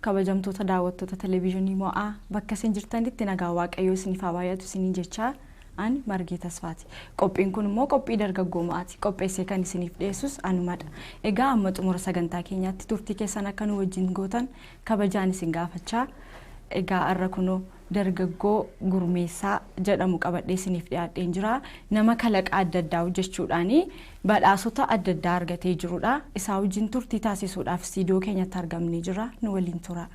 Kabajamtoota daawwattoota Televizyonii Mo'aa bakka isin jirtanitti nagaan Waaqayyoo isiniif haa baay'atu isiniin jechaa an Margee Tasfaati. Qophiin kun immoo qophii dargaggoo mo'aati. Qopheessee kan isiniif dhiyeessus anumadha. Egaa amma xumura sagantaa keenyaatti turtii keessan akka nu wajjin gootan kabajaan isin gaafachaa egaa har'a kunoo dargaggoo Gurmeessaa jedhamu qabadhee isiniif dhiyaadheen jira. Nama kalaqa adda addaa hojjechuudhaan badhaasota adda addaa argatee jirudha. Isaa wajjin turtii taasisuudhaaf istiidiyoo keenyatti argamnee jirra. Nu waliin tura.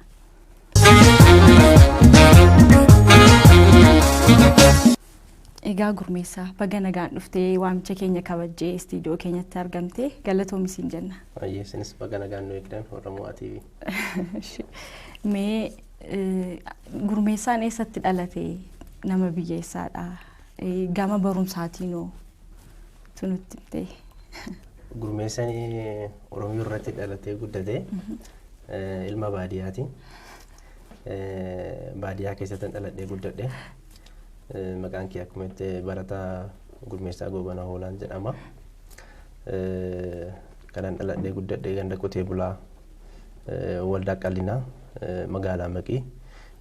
Egaa Gurmeessaa baga nagaan dhuftee waamicha keenya kabajjee istiidiyoo keenyatti argamtee galatoomi siin jenna. Baay'ee isinis baga nagaan nu eegdan Oromoo TV. Mee Gurmeessaan eessatti dhalate? Nama biyya eessaadha? Gama barumsaatiinoo tu nutti himtee. Gurmeessan Oromiyaa irratti dhalatee guddate ilma baadiyyaati. Baadiyyaa keessatti dhaladhee guddadhe. Maqaan kee akkuma itti barataa Gurmeessaa Goobanaa Hoolaan jedhama. Kanan dhaladhee guddadhe ganda qotee bulaa Waldaa Qallinaa magaalaa Maqii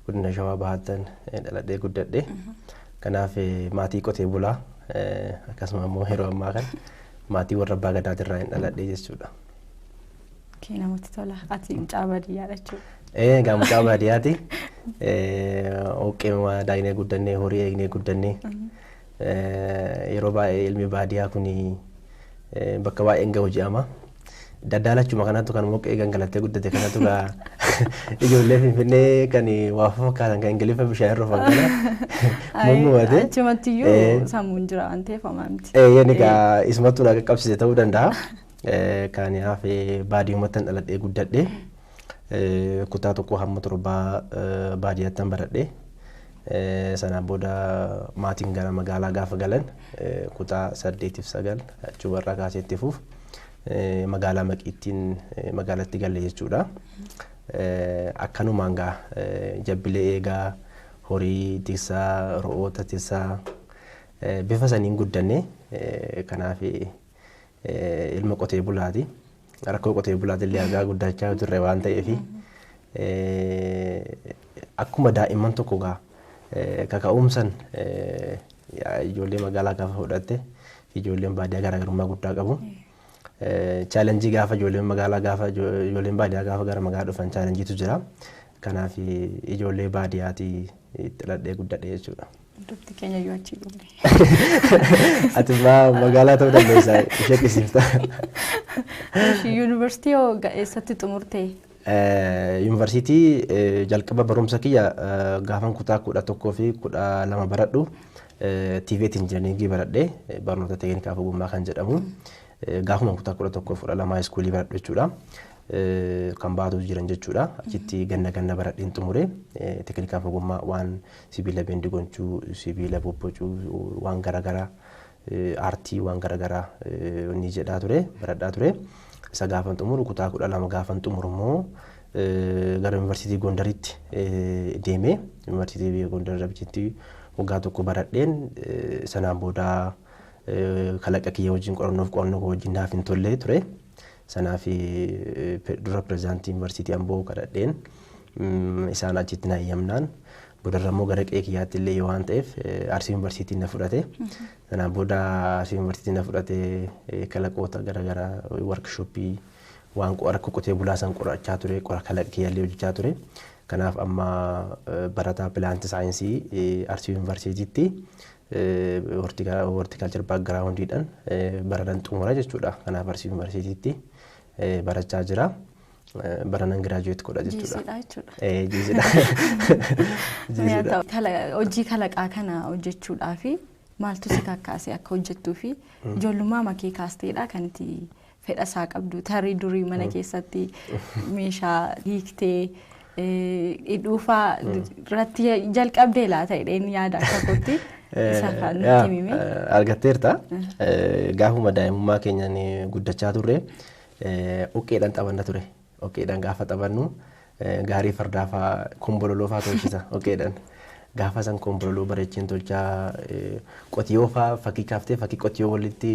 godina Shawaa Bahaattan dhaladhee guddadhe. Kanaaf maatii qotee bulaa akkasuma immoo yeroo ammaa kana maatii warra abbaa gadaatirraa hin dhaladhe jechuudha. Kee namatti tola. Ati mucaa baadiyyaadha jechuudha. Ee egaa mucaa baadiyyaati. Oqqeema daaynee guddannee horii eegnee guddannee Yeroo baay'ee ilmi baadiyaa kun bakka baay'ee hin gahu jedhama. Daddaalachuma kanatu kan moqqee gangalattee guddate kanatu gaa ijoollee Finfinnee kan waa fakkaatan kan Ingiliffa bishaan irra fakkana mummumate. Achumatti iyyuu sammuun jira waan ta'eef homaa miti. Eeyyeen egaa isumatu na qaqqabsiise ta'uu danda'a. Kan hafe baadiyumatti dhaladhee guddadhe. Kutaa tokkoo hamma torbaa baadiyyaattan baradhe. Sanaan booda maatiin gara magaalaa gaafa galan kutaa saddeetiif sagal achumarraa kaasee itti fuuf magaalaa Maqiittiin magaalatti galle jechuudha. Akkanumaan gaa jabbilee eegaa horii tiksaa ro'oota tiksaa bifa saniin guddanne kanaaf ilma qotee bulaati. Rakkoo qotee bulaa dillee argaa guddachaa turre waan ta'eef akkuma daa'imman tokko gaa kaka'umsan ijoollee magaalaa gaafa fudhatte fi ijoolleen baadiyyaa garaagarummaa guddaa qabu. Chaalenjii gaafa ijoolleen magaalaa gaafa ijoolleen baadiyyaa gaafa gara magaalaa dhufan chaalenjiitu jira. Kanaaf ijoollee baadiyyaati itti dhaladhee guddadhe jechuudha. Dubti keenya yoo achi dhume. Ati ma- magaalaa ta'uu dandeessa ishee dhiisifta. Ishii yuunivarsiitii hoo ga- eessatti xumurte? Eh, Yuunivarsiitii eh, jalqaba barumsa kiyya eh, gaafan kutaa kudha tokkoo fi kudha lama baradhu eh, TVET injinariingii baradhe eh, barnoota teeknikaa fi ogummaa kan jedhamu eh, gaafuma kutaa kudha tokkoo fi kudha lamaa iskuulii baradhu jechuudha. Eh, Kan baatu jiran jechuudha. Achitti ganna ganna baradheen xumure eh, teeknikaa fi ogummaa waan sibiila bendi gonchuu, sibiila bobbocuu, waan garagaraa aartii waan garagaraa ni jedhaa ture, baradhaa ture. Isa gaafan xumuru kutaa kudha lama gaafan xumuru immoo gara yuunivarsiitii Gondaritti deeme. Yuunivarsiitii Gondar Rabichitti waggaa tokko baradheen sanaan booda kalaqa kiyya wajjin qorannoof qorannoo koo wajjin naaf hin tolle ture. Sanaaf dura pirezidaantii Yuunivarsiitii Amboo kadhadheen isaan achitti na eeyyamnaan boodarra immoo gara qe'ee kiyyaatti illee yoo waan ta'eef Arsii Yuunivarsiitiin na fudhate. Sanaan booda Arsii Yuunivarsiitiin na fudhate kalaqoota garaagaraa warkishooppii waan rakkoo qotee bulaa san qorachaa ture qora kalaqa kiyyallee hojjechaa ture. Kanaaf amma barataa pilaanti saayinsii Arsii Yuunivarsiitiitti horticulture background dhan baranan xumura jechuudha. Kanaaf barsiif yuunivarsiitiitti barachaa jira. Baranan giraajuweet godha jechuudha. Jiisidha jechuudha. Eh, Jiisidha. Jiisidha. Kala- Hojii kalaqaa kana hojjechuudhaaf maaltu si kakkaase akka hojjettuu fi ijoollummaa makee kaasteedha kan itti fedha isaa qabdu tarii durii mana keessatti meeshaa hiiktee hidhuufaa irratti jalqabdee laata jedheen yaada akka kootti isa kan nutti himime. Argatteerta. Gaafuma daa'imummaa keenyaan guddachaa turre uqqeedhaan taphanna ture. dhoqqeedhaan gaafa taphannu gaarii fardaa faa kombololoo faa tolchisa dhoqqeedhaan. Gaafa san kombololoo bareecheen tolchaa qotiyoo faa fakkii kaaftee fakkii qotiyoo walitti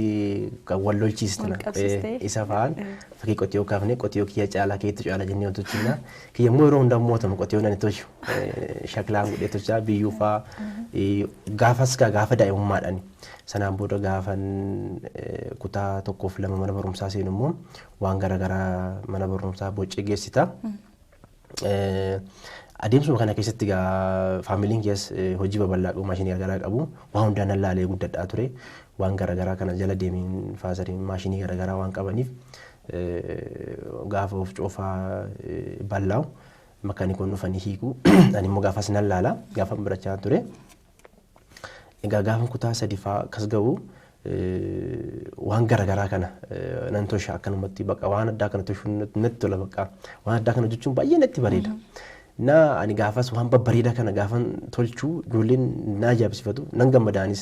kan wal lolchiisna. Wal qabsiistee. Eh, Isa faan Eh, eh. fakkii qotiyoo kaafnee qotiyoo kiyya caalaa keetu caalaa jennee wal tolchina. Kiyya immoo yeroo hundaa mootamu qotiyoon ani tolchu eh, shaklaan godhee tolchaa biyyuu faa eh, gaafas gaa gaafa daa'imummaadhaan. Sanaan booda gaafan eh, kutaa tokkoof lama mana barumsaa seenu immoo waan garaagaraa mana barumsaa boccee geessita. Adeemsuma kana keessatti egaa faamiliin kees hojii babal'aa qabu maashinii garaagaraa qabu waan hundaa nan laalee guddadhaa ture waan garaagaraa kana jala deemiin faasariin maashinii garaagaraa waan qabaniif gaafa of coofaa ballaa'u makkanikoon dhufanii hiiku ani immoo gaafas nan laala gaafan barachaa ture. Egaa gaafan kutaa sadifaa akkas ga'u waan garagaraa kana nan tosha akkanumatti baqa waan addaa kana toshuun natti tola baqa waan addaa kana hojjechuun baay'ee natti bareeda. Na ani gaafas waan babbareedaa kana gaafan tolchuu ijoolleen na ajaa'ibsiifatu nan gammadaanis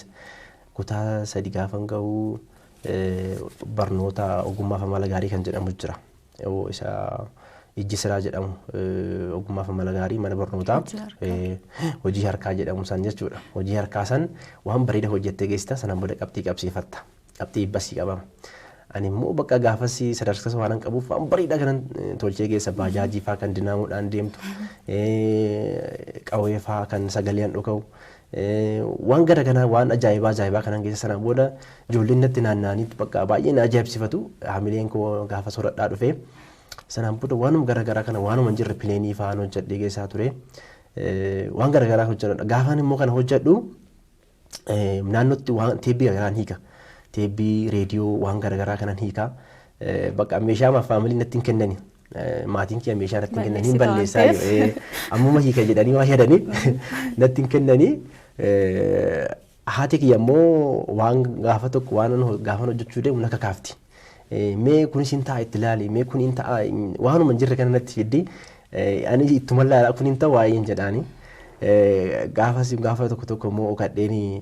kutaa sadi gaafan ga'u barnoota ogummaa fi amala gaarii kan jedhamu jira. Ewoo isa ijji siraa jedhamu eh, ogummaaf amala gaarii mana barnootaa Hojii harkaa. eh, hojii harkaa jedhamu san jechuudha. Hojii harkaa san waan bareeda hojjettee geessita sanaan booda qabxii qabsiifatta. Qabxii ibbasii qabama. Ani immoo bakka gaafasii sadarkasa waan qabuuf waan bareedaa kanan eh, tolchee geessa baajaajii faa kan dinaamuudhaan deemtu eh, qawwee faa kan sagaleean dhuka'u Waan gara kanaa waan ajaa'ibaa ajaa'ibaa kanan geessa sana booda ijoolleen natti naanna'anii bakka baay'ee na ajaa'ibsifatu hamileen koo gaafa soradhaa dhufee sanaan booda waanuma gara garaa kana waanuma hin jirre pileenii fa'aan hojjedhee geessaa ture waan gara garaa hojjedha gaafaan immoo kana hojjedhu naannootti waan teebbii gara garaan hiika teebbii reediyoo waan gara garaa kanan hiika bakka meeshaa maaf faamilii natti hin kennani maatiin kiyya meeshaa irratti hin kennan hin Balleessita waan balleessaa ta'eef. jedhee ammuma hiika jedhanii waa yaadaniif natti hin kennanii eh, haati kiyya immoo waan gaafa tokko waan ani ho- gaafan hojjechuu deemu na kakaafti. Eh, Mee kunis hin ta'a itti ilaali mee kun hin ta'a hin- waanuma hin jirre kana natti fiddi Eh, ani ittuma ilaala kun hin ta'a waa'ee hin jedhaani. Eh, Gaafas gaafa tokko tokko immoo kadheenii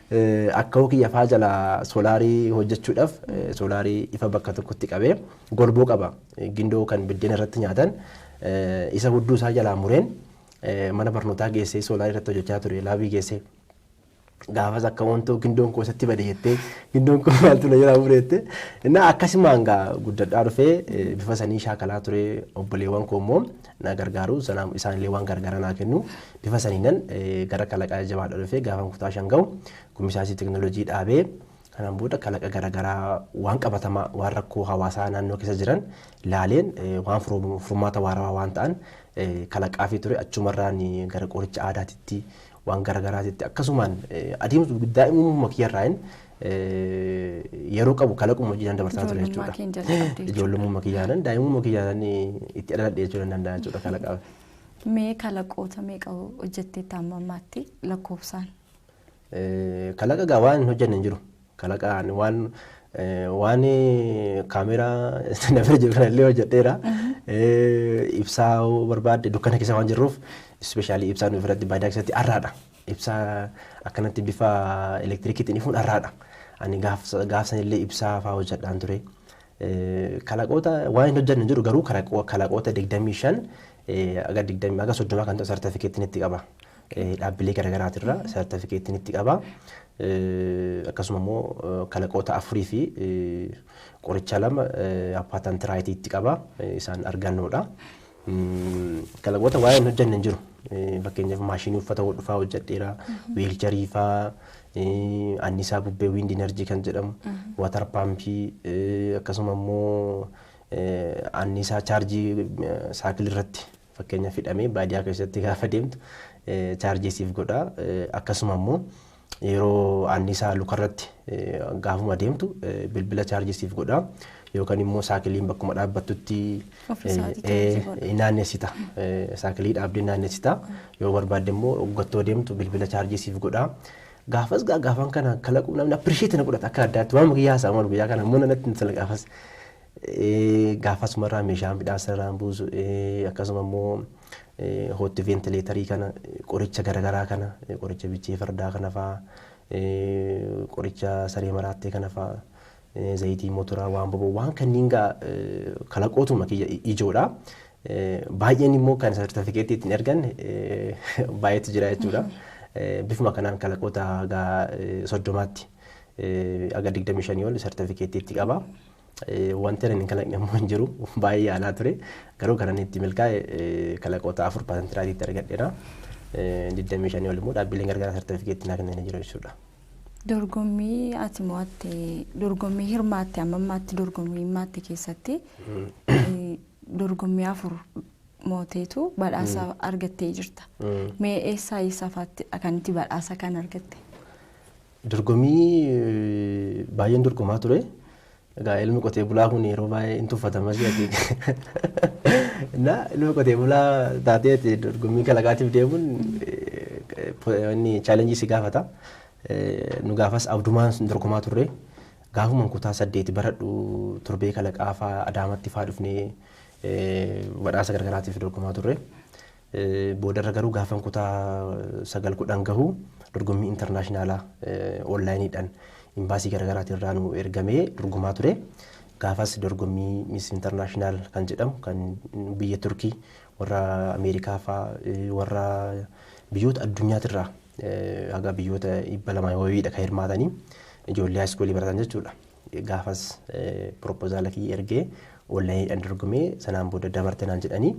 Akkawoo kiyya faa jalaa soolaarii hojjechuudhaaf soolaarii ifa bakka tokkotti qabee golboo qaba. Gindoo kan biddeena irratti nyaatan isa hudduu isaa jalaa mureen mana barnootaa geessee soolaarii irratti hojjechaa ture laabii geessee. Gaafas akka wantoo gindoon koo isatti bade jettee gindoon koo maaltu na jalaa mure jettee. Innaa akkasumaan gaa guddadhaa dhufee bifa sanii shaakalaa ture obboleewwan koo immoo na gargaaru sanaan isaan illee waan gargaara naa kennu bifa saniinan gara kalaqa jajjabaadha dhufee gaafan kutaa shan ga'u gumisaasii teknolojii dhaabee kanaan booda kalaqa garaagaraa waan qabatamaa waan rakkoo hawaasaa naannoo keessa jiran laaleen waan furmaata waarawaa waan ta'an kalaqaafii ture achumarraan gara qoricha aadaatitti waan gara garaatitti akkasumaan adeemsa daa'imummaa kiyyarraayin yeroo qabu kalaquma hojiidhaan dabarsaa ture jechuudha. Ijoollummaa kiyyaanan daa'imummaa kiyyaanan itti dhaladhe jechuu nan danda'a jechuudha kalaqaa. Mee kalaqoota meeqa hojjettee taa'ammaatti lakkoofsaan? Kalaqa gaa waan hin hojjenne hin jiru. Kalaqaan waan waan kaameeraa na bira jiru kanallee hojjedheera. Ibsaa barbaadde dukkana keessa waan jirruuf ispeeshaalii ibsaa nuuf irratti baadiyyaa keessatti arraadha. Ibsaa akkanatti bifa elektirikiitiin ifuun arraadha. Ani gaafsan illee ibsaa fa'aa hojjedhaan ture. Kalaqoota waan hin hojjenne jiru garuu kalaqoota digdamii shan aga digdamii aga soddomaa kan ta'u sartifikeettiin itti qaba. dhaabbilee garagaraatirra sartafikeetti nitti qaba. Akkasuma immoo kalaqoota afurii fi qoricha lama patent right itti qaba. Isaan argannoodha. Kalaqoota waa'ee hin hojjenne hin jiru. Fakkeenyaaf maashinii uffata hodhu fa'aa hojjedheera. Wiilcharii fa'aa annisaa bubbee wind energy kan jedhamu watar paampii akkasuma immoo annisaa chaarjii saakilii irratti Fakkeenyaaf hidhamee baadiyaa keessatti gaafa deemtu chaarjii siif godha. Akkasuma immoo yeroo anniisaa lukarratti gaafuma deemtu bilbila chaarjii siif godha. Yookaan immoo saakiliin bakkuma dhaabbattutti naannessita. Saakilii dhaabdee naannessita. Yoo barbaadde immoo oggattoo deemtu bilbila chaarjii siif godha. Gaafas gaafan kana kalaquu namni appirisheetii na godhata akka addaatti waan guyyaa isaa malu guyyaa kana immoo nanatti intala gaafas. Gaafa asumarraa meeshaa midhaan sanarraan buusu akkasuma immoo hootti veentileetarii kana qoricha garagaraa kana qoricha bichee fardaa kana fa'a qoricha saree maraattee kana fa'a zayitii motoraa waan boboo waan kanniin gaa kalaqootuma kiyya ijoodha. Baay'een immoo kan sartifikeetti ittiin ergan baay'eetu jira jechuudha. Bifuma kanaan kalaqoota gaa soddomaatti aga digdamii shanii ol sartifikeetti itti qaba. Wanti ani hin kalaqne immoo hin jiru. Baay'ee yaalaa ture. Garuu kan inni itti milkaa'e kalaqoota afur paasantiraatiitti argadheera. 25 ol immoo dhaabbileen gargaaraa sartifikeetti naa kennanii jiru jechuudha. Dorgommii ati mo'atte dorgommii hirmaatte amma ammaatti dorgommii hirmaatte keessatti dorgommii afur mooteetu badhaasa argattee jirta. Mee eessaa eessaa fa'aatti kan itti badhaasa kan argatte? Dorgommii baay'een dorgomaa ture. Egaa ilmi qotee bulaa kun yeroo baay'ee hin tuffatama jedhati. Na ilma qotee bulaa taateeti dorgommii kalaqaatiif deemuun inni chaalenjii si gaafata. Nu gaafas abdumaan sun dorgomaa turre. Gaafuma kutaa saddeeti baradhu torbee kalaqaa faa adaamatti faa dhufnee badhaasa gargaraatiif dorgomaa turre. Boodarra garuu gaafan kutaa sagal kudhan gahu dorgommii intarnaashinaalaa onlaayiniidhaan imbaasii garaagaraatiin irraa nu ergamee dorgomaa ture. Gaafas dorgommii Miss International kan jedhamu kan biyya Turkii warra Ameerikaa faa warra biyyoota addunyaatirraa haga biyyoota dhibba lamaa wayiidha kan hirmaatanii ijoollee haayiskuulii baratan jechuudha. Gaafas piropozaala kiyya ergee onlaayiniidhaan dorgomee sanaan booda dabarte naan jedhanii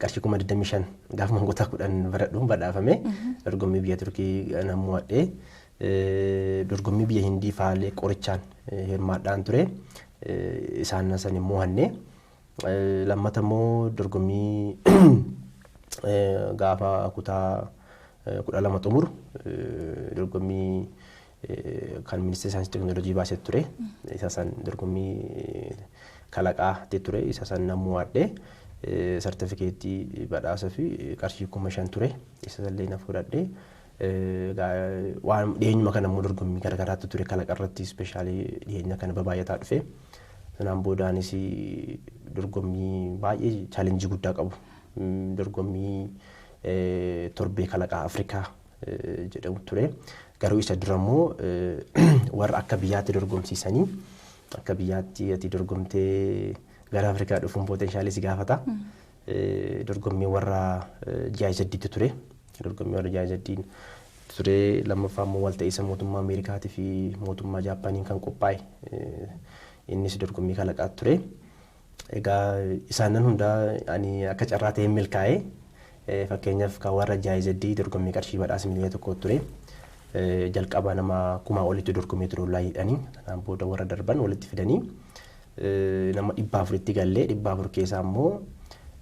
qarshii kuma 25 gaafa mangoota 10 baradhuun badhaafame dorgommii biyya Turkii nan mo'adhe. Dorgommii biyya Hindii faalee qorichaan hirmaadhaan ture. Isaan san hin mo'anne. Lammata immoo dorgommii gaafa kutaa kudha lama xumuru dorgommii kan ministeera saayinsii teeknooloojii baase ture. Isa san dorgommii kalaqaa ture. Isa san nan mo'adhe. Sartifikeettii badhaasa fi qarshii kuma shan ture. Isa sallee na fudhadhe. Waan dhiyeenyuma kana immoo dorgommii garaagaraatti ture kalaqa irratti ispeeshaalii dhiyeenya kana babaay'ataa dhufe. Sanaan boodaanis dorgommii baay'ee chaalenjii guddaa qabu. Dorgommii torbee kalaqaa Afrikaa jedhamu ture. Garuu isa dura immoo warra akka biyyaatti dorgomsiisanii akka biyyaatti ati dorgomtee gara Afrikaa dhufuun pootenshaalii si gaafata. Dorgommii warra GIZ'tu ture. Dorgommii warra GIZ'n ture lammaffaa immoo walta'iinsa mootummaa Ameerikaatii fi mootummaa Jaappaaniin kan qophaa'e innis dorgommii kalaqaa ture. Egaa isaannan hundaa ani akka carraa ta'een milkaa'e. Fakkeenyaaf kan warra GIZ dorgommii qarshii badhaasa miliyoona tokkoo ture. Jalqaba nama kumaa olitu dorgomee ture oonlaayiidhaani. Kanaan booda warra darban walitti fidanii nama dhibba afuritti galle. Dhibba afur keessaa immoo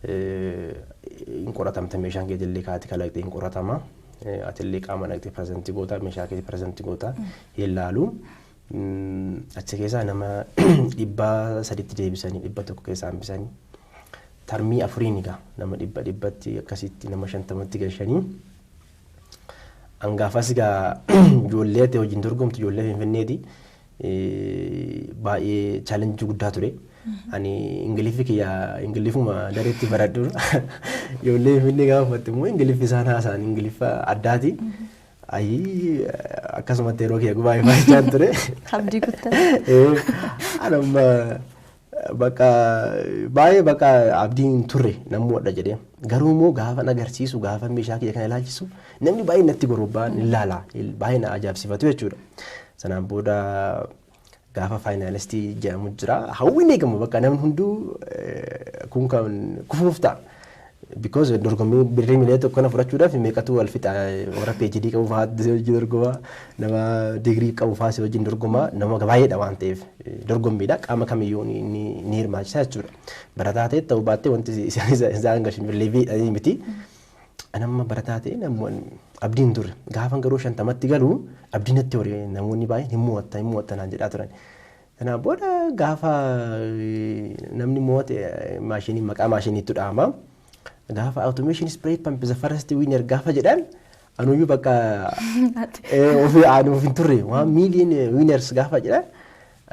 hin qoratamta meeshaan keetillee kaati kalaqxe hin qoratama. Atillee qaama dhaqxee pireezantii goota meeshaa keetii pireezantii goota hin laalu. Achi keessaa nama dhibba saditti deebisanii dhibba tokko keessaa hambisanii tarmii afuriin egaa nama dhibba dhibbatti akkasitti nama shantamatti galchanii hangaafas egaa ijoollee ta'e wajjin dorgomtu ijoollee finfinneeti baay'ee chaalenjii guddaa ture. Ani ingiliffii kiyya ingiliffuma dareetti baradhu ijoollee finfinnee gaafa uffatte immoo ingiliffi isaan haasa'an ingiliffa addaati. Ayii akkasumatti yeroo kiyya gubaa himaachaan ture. Abdii kuttan. Eh, Ani amma bakka baay'ee bakka abdiin hin turre nan mo'adha jedhee. Garuu immoo gaafa na agarsiisu gaafa meeshaa kiyya kana ilaalchisu namni baay'een natti gorobbaan hin laala baay'ee na ajaa'ibsiifatu jechuudha. Sanaan booda gaafa faayinaalistii jedhamu jira. Hawwiin eegamu bakka namni hunduu kun kan kufuuf ta'a. Because dorgommii birrii miliyoona tokko kana fudhachuudhaaf meeqatu wal fixa warra PhD qabu fa'aa si wajjin dorgoma nama digirii qabu fa'aa si wajjin dorgoma nama baay'eedha waan ta'eef dorgommiidha qaama kamiyyuu ni hirmaachisa jechuudha. Barataa ta'e ta'uu baattee wanti isaan gashin leevii miti. An amma barataa ta'e namoon abdii hin turre. Gaafan garuu shantamatti galu abdii natti hore namoonni baay'een hin mo'atta hin mo'atta naan jedhaa turan. Kanaa booda gaafa namni mo'ate maashinii maqaa maashiniitu dhahama. Gaafa automation spray pump the first winner gaafa jedhan anuyyuu bakka ofii aanuuf hin turre waan million winners gaafa jedhan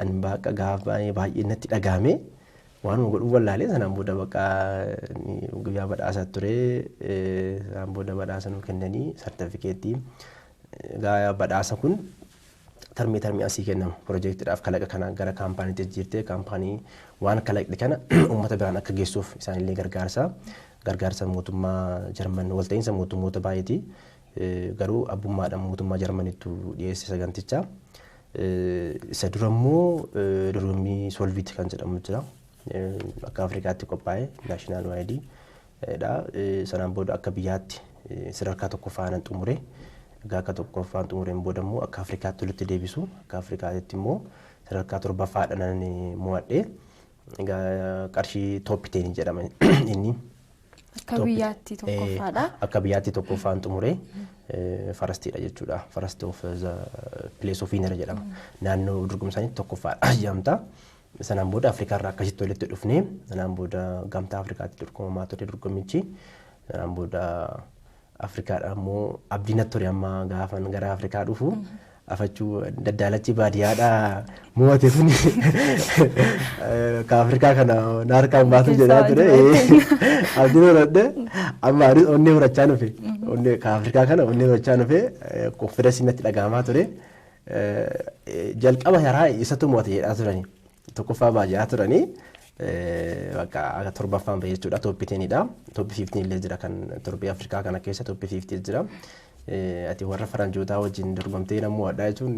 an bakka gaafa baay'ee natti dhagaame. Waanuma godhu wallaalee sanaan booda bakka guyyaa badhaasa ture sanaan booda badhaasa nu kennanii sartifikeettii egaa badhaasa kun tarmii tarmii asii kennamu piroojeektiidhaaf kalaqa kana gara kaampaaniitti jijjiirtee kaampaanii waan kalaqxe kana uummata biraan akka geessuuf isaanillee gargaarsa gargaarsa mootummaa Jarman walta'iinsa mootummoota baay'eeti Garuu abbummaadhaan mootummaa Jarmanittu dhiyeesse saganticha. Isa dura immoo dorgommii Solvit kan jedhamu jira. Akka Afrikaatti qophaa'e naashinaal waayidii dha. Sanaan booda akka biyyaatti sadarkaa tokkoffaanan xumure. Egaa akka tokkoffaan xumureen booda immoo akka Afrikaatti walitti deebisu. Akka Afrikaatti immoo sadarkaa torbaffaadhaan mo'adhe. Egaa qarshii tooppi teenii jedhama inni. Akka Tooppi- biyyaatti Eh, tokkoffaadha. Akka biyyaatti tokkoffaan xumure eh, farastiidha jechuudha. Farasti of the place of winner jedhama. Naannoo dorgomsaanii tokkoffaadha jedhamta. Sanaan booda Afrikaa irraa akkasitti walitti dhufnee sanaan booda gamtaa Afrikaatti dorgomamaa ture dorgommichi. Sanaan booda Afrikaadha ammoo abdii natti ture amma gaafan gara Afrikaa dhufu afachuu daddaalachi baadiyyaadha mo'ate sun ka Afrikaa kana na harkaan baatu jedhaa ture abdii horadhe amma anis onnee horachaa nufe onnee ka Afrikaa kana onnee horachaa nufe konfidensii natti dhaga'amaa ture jalqaba yaraa isatu mo'ate jedhaa turani. Tokkoffaa baa ja'a turanii bakka akka torbaffaan ba'e jechuudha tooppi teenidha. Tooppi fiiftiin illee jira kan torbee Afrikaa kana keessa tooppi fiiftii jira. Ati warra faranjootaa wajjin dorgomtee namuu addaa jechuun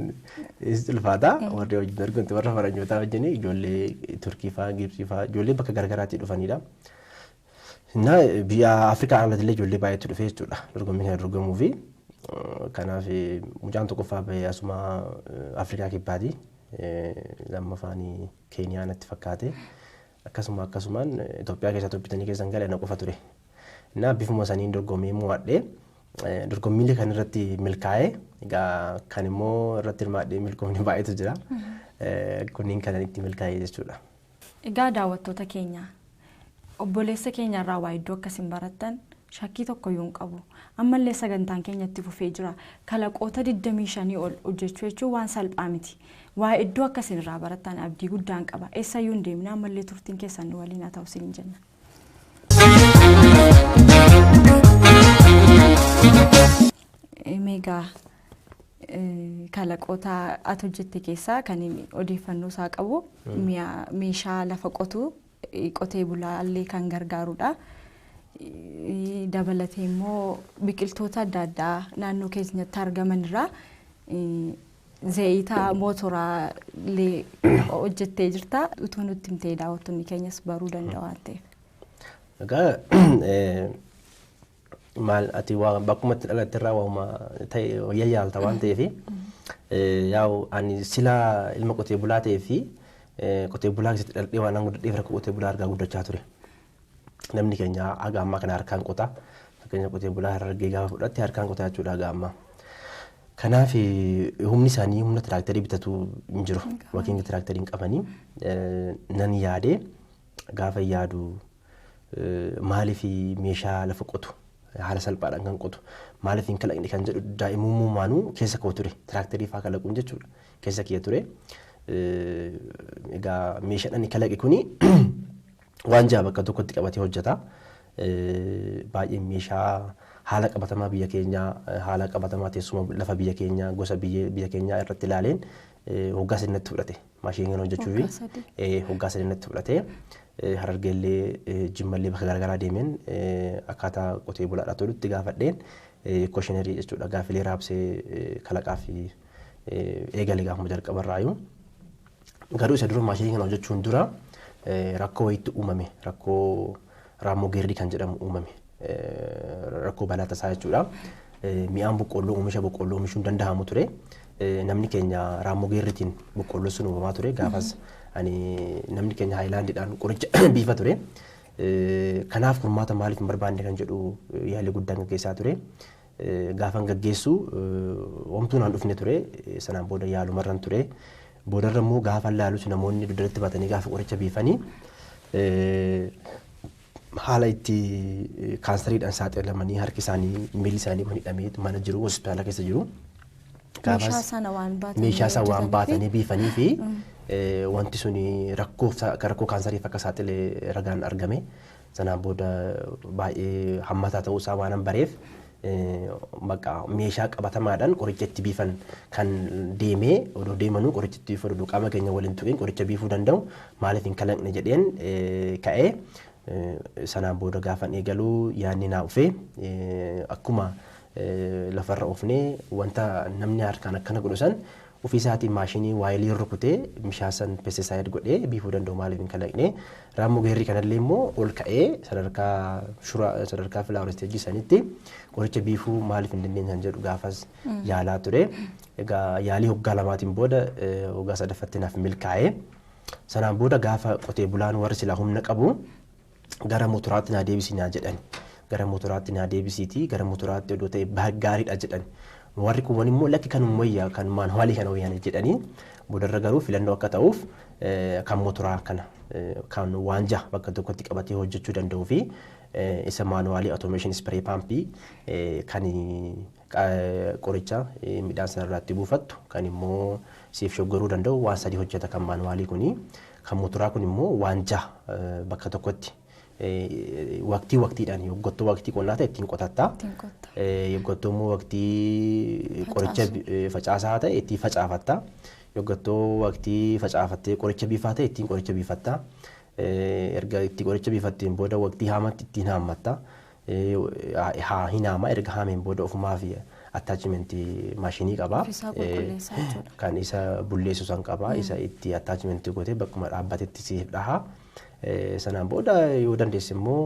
is ulfaata. Warri wajjin dorgomte warra faranjootaa wajjin ijoollee Turkii fa'aa Gibsii fa'aa ijoollee bakka garaagaraatii dhufanidha. Innaa biyya Afrikaa alatillee ijoollee baay'eetu dhufee jechuudha dorgommii kana dorgomuu fi kanaaf mucaan tokkoffaa bahee asuma Afrikaa kibbaati lammaffaan Keeniyaa natti fakkaate akkasuma akkasumaan Itoophiyaa keessaa toppitanii keessan gale na qofa ture. Innaa bifuma saniin dorgommii mo'adhee dorgommiilee kan irratti milkaa'ee egaa kan immoo irratti hirmaadhee milkoomni baay'eetu jira. Kunniin kanan itti milkaa'ee jechuudha. Egaa daawwattoota keenya obboleessa keenya irraa waa hedduu akka isin barattan shakkii tokkoyyuu hin qabu. Ammallee sagantaan keenya itti fufee jira. Kalaqoota 25 ol hojjechuu jechuun waan salphaa miti. Waa hedduu akka isin irraa barattan abdii guddaan qaba. Eessayyuu hin deemina ammallee turtiin keessan nu waliin haa ta'u isiniin jenna. Meegaa Kalaqoota ati hojjette keessaa kan inni odeeffannoo isaa qabu mi'a- meeshaa lafa qotu qotee bulaa illee kan gargaarudha. Eh, Dabalatee immoo biqiltoota adda addaa naannoo keenyatti argaman irraa eh, zayita mootoraa illee hojjettee jirta. Utuu nutti himtee daawwattoonni keenyas baruu danda'u waan ta'eef. Egaa eh, maal ati waa bakkuma itti dhalatte irraa waa'uma ta'e wayya yaalta waan ta'eef yaa'u ani sila ilma qotee bulaa ta'ee fi qotee bulaa keessatti dhaladhee waan guddadheef rakkoo qotee bulaa argaa guddachaa ture. Namni keenya haga ammaa kana harkaan qota. Fakkeenya qotee bulaa harargee gaafa fudhatte harkaan qota jechuudha haga ammaa. Kanaaf humni isaanii humna tiraaktarii bitatu hin jiru. Yookiin tiraaktarii hin qabanii. Nan yaadee gaafa yaadu maaliif meeshaa lafa qotu haala salphaadhaan kan qotu maaliif hin kalaqne kan jedhu daa'imummaanuu keessa koo ture tiraaktarii fa'aa kalaquun jechuudha keessa kiyya ture. Egaa meeshaan ani kalaqe kuni waan ja'a bakka tokkotti qabatee hojjeta. Baay'een meeshaa haala qabatamaa biyya keenyaa haala qabatamaa teessuma lafa biyya keenyaa gosa biyya keenyaa irratti ilaaleen hoggaa sirnatti fudhate. maashinii kana hojjechuufi Waggaa sadii. eh, waggaa sadii natti fudhate. Eh, Harargeellee eh, jimmallee bakka garaagaraa deemeen eh, akkaataa qotee bulaadhaa tolutti gaafadheen eh, koshinerii jechuudha gaafilee raabsee eh, kalaqaa fi eh, eegale gaafuma jalqabarraayu. Garuu isa dura maashinii kana hojjechuun dura eh, rakkoo wayiitti uumame rakkoo Raammoo Geerrii kan jedhamu uumame. Rakkoo balaa tasaa jechuudha. Mi'aan boqqoolloo oomisha boqqoolloo oomishuun danda'amu ture. Namni keenya raammoo geerritiin boqqoolloo sun uumamaa ture. Gaafas namni keenya haayilaandiidhaan qoricha biifa ture. Kanaaf furmaata maaliif hin barbaanne kan jedhu yaalii guddaan gaggeessaa ture. Gaafan gaggeessu homtuu naan dhufne ture. Sanaan booda yaalumarran ture. Boodarra immoo gaafan laalus namoonni dugdatti baatanii gaafa qoricha biifani haala itti kaansariidhaan saaxilamanii harki isaanii miilli isaanii kun hidhamee mana jiru hospitaala keessa jiru. Meeshaa sana waan baatanii meeshaa isaa waan hojjetanii fi- baatanii biifanii fi eh, wanti suni rakkoof sa- akka rakkoo kaansariif akka saaxile ragaan argame. Sanaan booda baay'ee hammataa ta'uu isaa waanan bareef bakka meeshaa qabatamaadhaan qoricha itti biifan kan deemee odoo deemanuu qoricha itti biifan odoo qaama keenya waliin tuqiin qoricha biifuu danda'u maaliif hin kalaqne jedheen ka'ee sanaan booda gaafan eegaluu yaadni naa dhufee akkuma lafarra oofnee wanta namni harkaan akkana godhu san Ufii isaatiin maashinii waayilii rukutee mishaa san pesticide godhee biifuu danda'u maaliif hin kalaqne? Raammoo geerri kanallee immoo ol ka'ee sadarkaa shura sadarkaa flower stage sanitti qoricha biifuu maaliif hin dandeenye kan jedhu gaafas yaalaa ture. Egaa yaalii hoggaa lamaatiin booda eh, hoggaa sadaffatti naaf milkaa'ee sanaan booda gaafa qotee bulaan warri silaa humna qabu gara motoraatti naa deebisi naa jedhani. Gara motoraatti naa deebisiitii gara motoraatti odoo ta'e ba- gaariidha jedhan. Warri kuuwwan immoo lakki kanuma wayya kan maanuwaalii kana wayya na jedhanii boodarra garuu filannoo akka ta'uuf eh, kan motoraa kana eh, kan waanjaa bakka tokkotti qabatee hojjechuu danda'uu fi eh, isa maanuwaalii automation spray paampii eh, kan Qoricha midhaan sana irraatti buufattu kan immoo siif shoggaruu danda'u waan sadii hojjeta kan maanuwaalii kuni. Kan motoraa kun immoo waan jaha bakka tokkotti waqtii waqtiidhaan yoggottoo waqtii qonnaa ta'e ittiin qotatta. Ittiin qotta. Yoggottoo immoo waqtii qoricha facaasaa ta'e ittiin facaafatta. Yoggottoo waqtii facaafattee qoricha biifaa ta'e ittiin qoricha biifatta. Erga itti qoricha biifatteen booda waqtii haamatti ittiin haammatta. haa hin haama erga haameen booda ofumaaf attachment maashinii qaba. Ofisaa qulqulleessa jechuudha. Kan isa bulleessu san qaba. Isa itti attachment gootee bakkuma dhaabbatetti siif dhaha. Eh, Sanaan booda yoo dandeesse immoo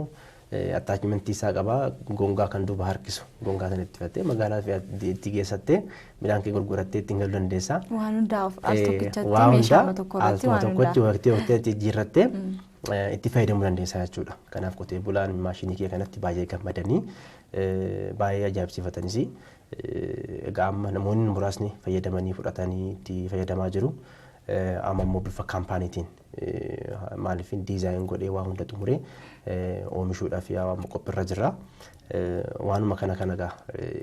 attachment isaa qaba gongaa kan duuba harkisu gongaa sana itti fattee magaalaa fi itti- itti geessattee midhaan kee gurgurattee ittiin galuu dandeessa. Waan hundaa of- al Eh, tokkichatti waa meeshaa hundaa tokko al irratti waan tokkotti hundaa. waqtii waqtii itti jijjiirrattee itti fayyadamuu dandeessa jechuudha. Kanaaf qotee bulaan maashinii kee kanatti baay'ee gammadanii baay'ee ajaa'ibsiifatanis egaa amma namoonni muraasni fayyadamanii fudhatanii itti fayyadamaa jiru. Amma immoo bifa kaampaaniitiin maaliif diizaayin godhee waa hunda xumuree oomishuudhaaf yaa amma qophiirra jirra. Waanuma kana kana egaa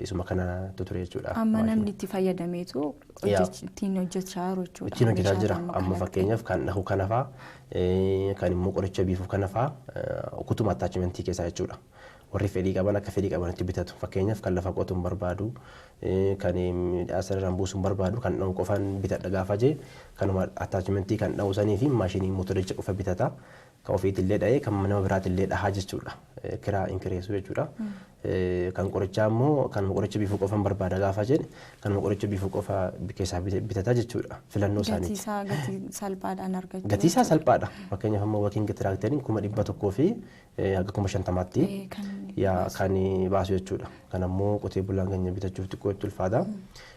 isuma kana ture jechuudha. Amma namni itti fayyadameetu ittiin hojjechaa jiru jechuudha. Ittiin hojjetaa jira. Amma fakkeenyaaf kan dhahu kanafaa Kan immoo qoricha biifuu kana faa ukutuma attachment keessaa jechuudha. Warri fedhii qaban akka fedhii qabanitti bitatu. Fakkeenyaaf kan lafa qotuun barbaadu, kan midhaa sararaan buusuun barbaadu kan dha'u qofaan bitadha gaafa jee kanuma attachment kan dha'u sanii fi maashinii motoricha qofa bitata. Kan ofiitillee dha'ee kan nama biraatillee dhahaa jechuudha. Kiraa hin kireessu jechuudha. Kan qorichaa immoo kanuma qoricha biifuu qofan barbaada gaafa jedhe kanuma qoricha biifuu qofa keessaa bitata jechuudha filannoo isaaniiti. Gatiisaa gatii salphaadhaan argachuu. Gatiisaa salphaadha. Fakkeenyaaf amma wakiin tiraakteriin kuma dhibba tokkoo fi hanga kuma shantamaatti kan baasu jechuudha. Kan ammoo qotee bulaan keenya bitachuuf xiqqoo itti ulfaata.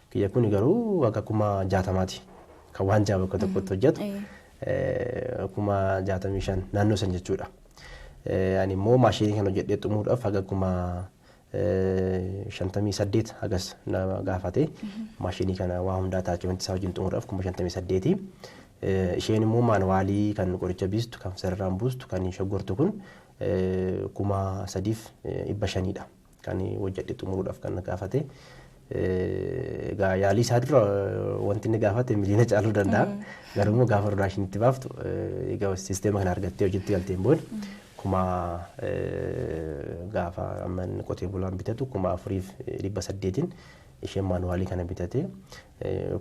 Kiyya kun garuu hanga kuma jaatamaati. Kan waan ja'a bakka tokkotti hojjetu kuma jaatamii shan naannoo san jechuudha. Ani immoo maashinii kana hojjedhee xumuruudhaaf haga kuma shantamii saddeet hagas na gaafate. Maashinii kana waa hundaa ataachimantii isaa wajjin xumuruudhaaf kuma shantamii saddeeti. Isheen immoo maanuwaalii kan qoricha biistu, kan sararaan buustu, kan shoggortu kun kuma sadiif dhibba shaniidha. Kan hojjedhe xumuruudhaaf kan na gaafate. Egaa yaalii isaa dura wanti inni gaafate miliyoona caaluu danda'a. Garuu immoo gaafa rodaashin itti baaftu egaa sisteema kana argattee hojiitti galteen booda kuma gaafa amma inni qotee bulaan bitatu kuma afuriif dhibba saddeetiin isheen maanuwaalii kana bitatee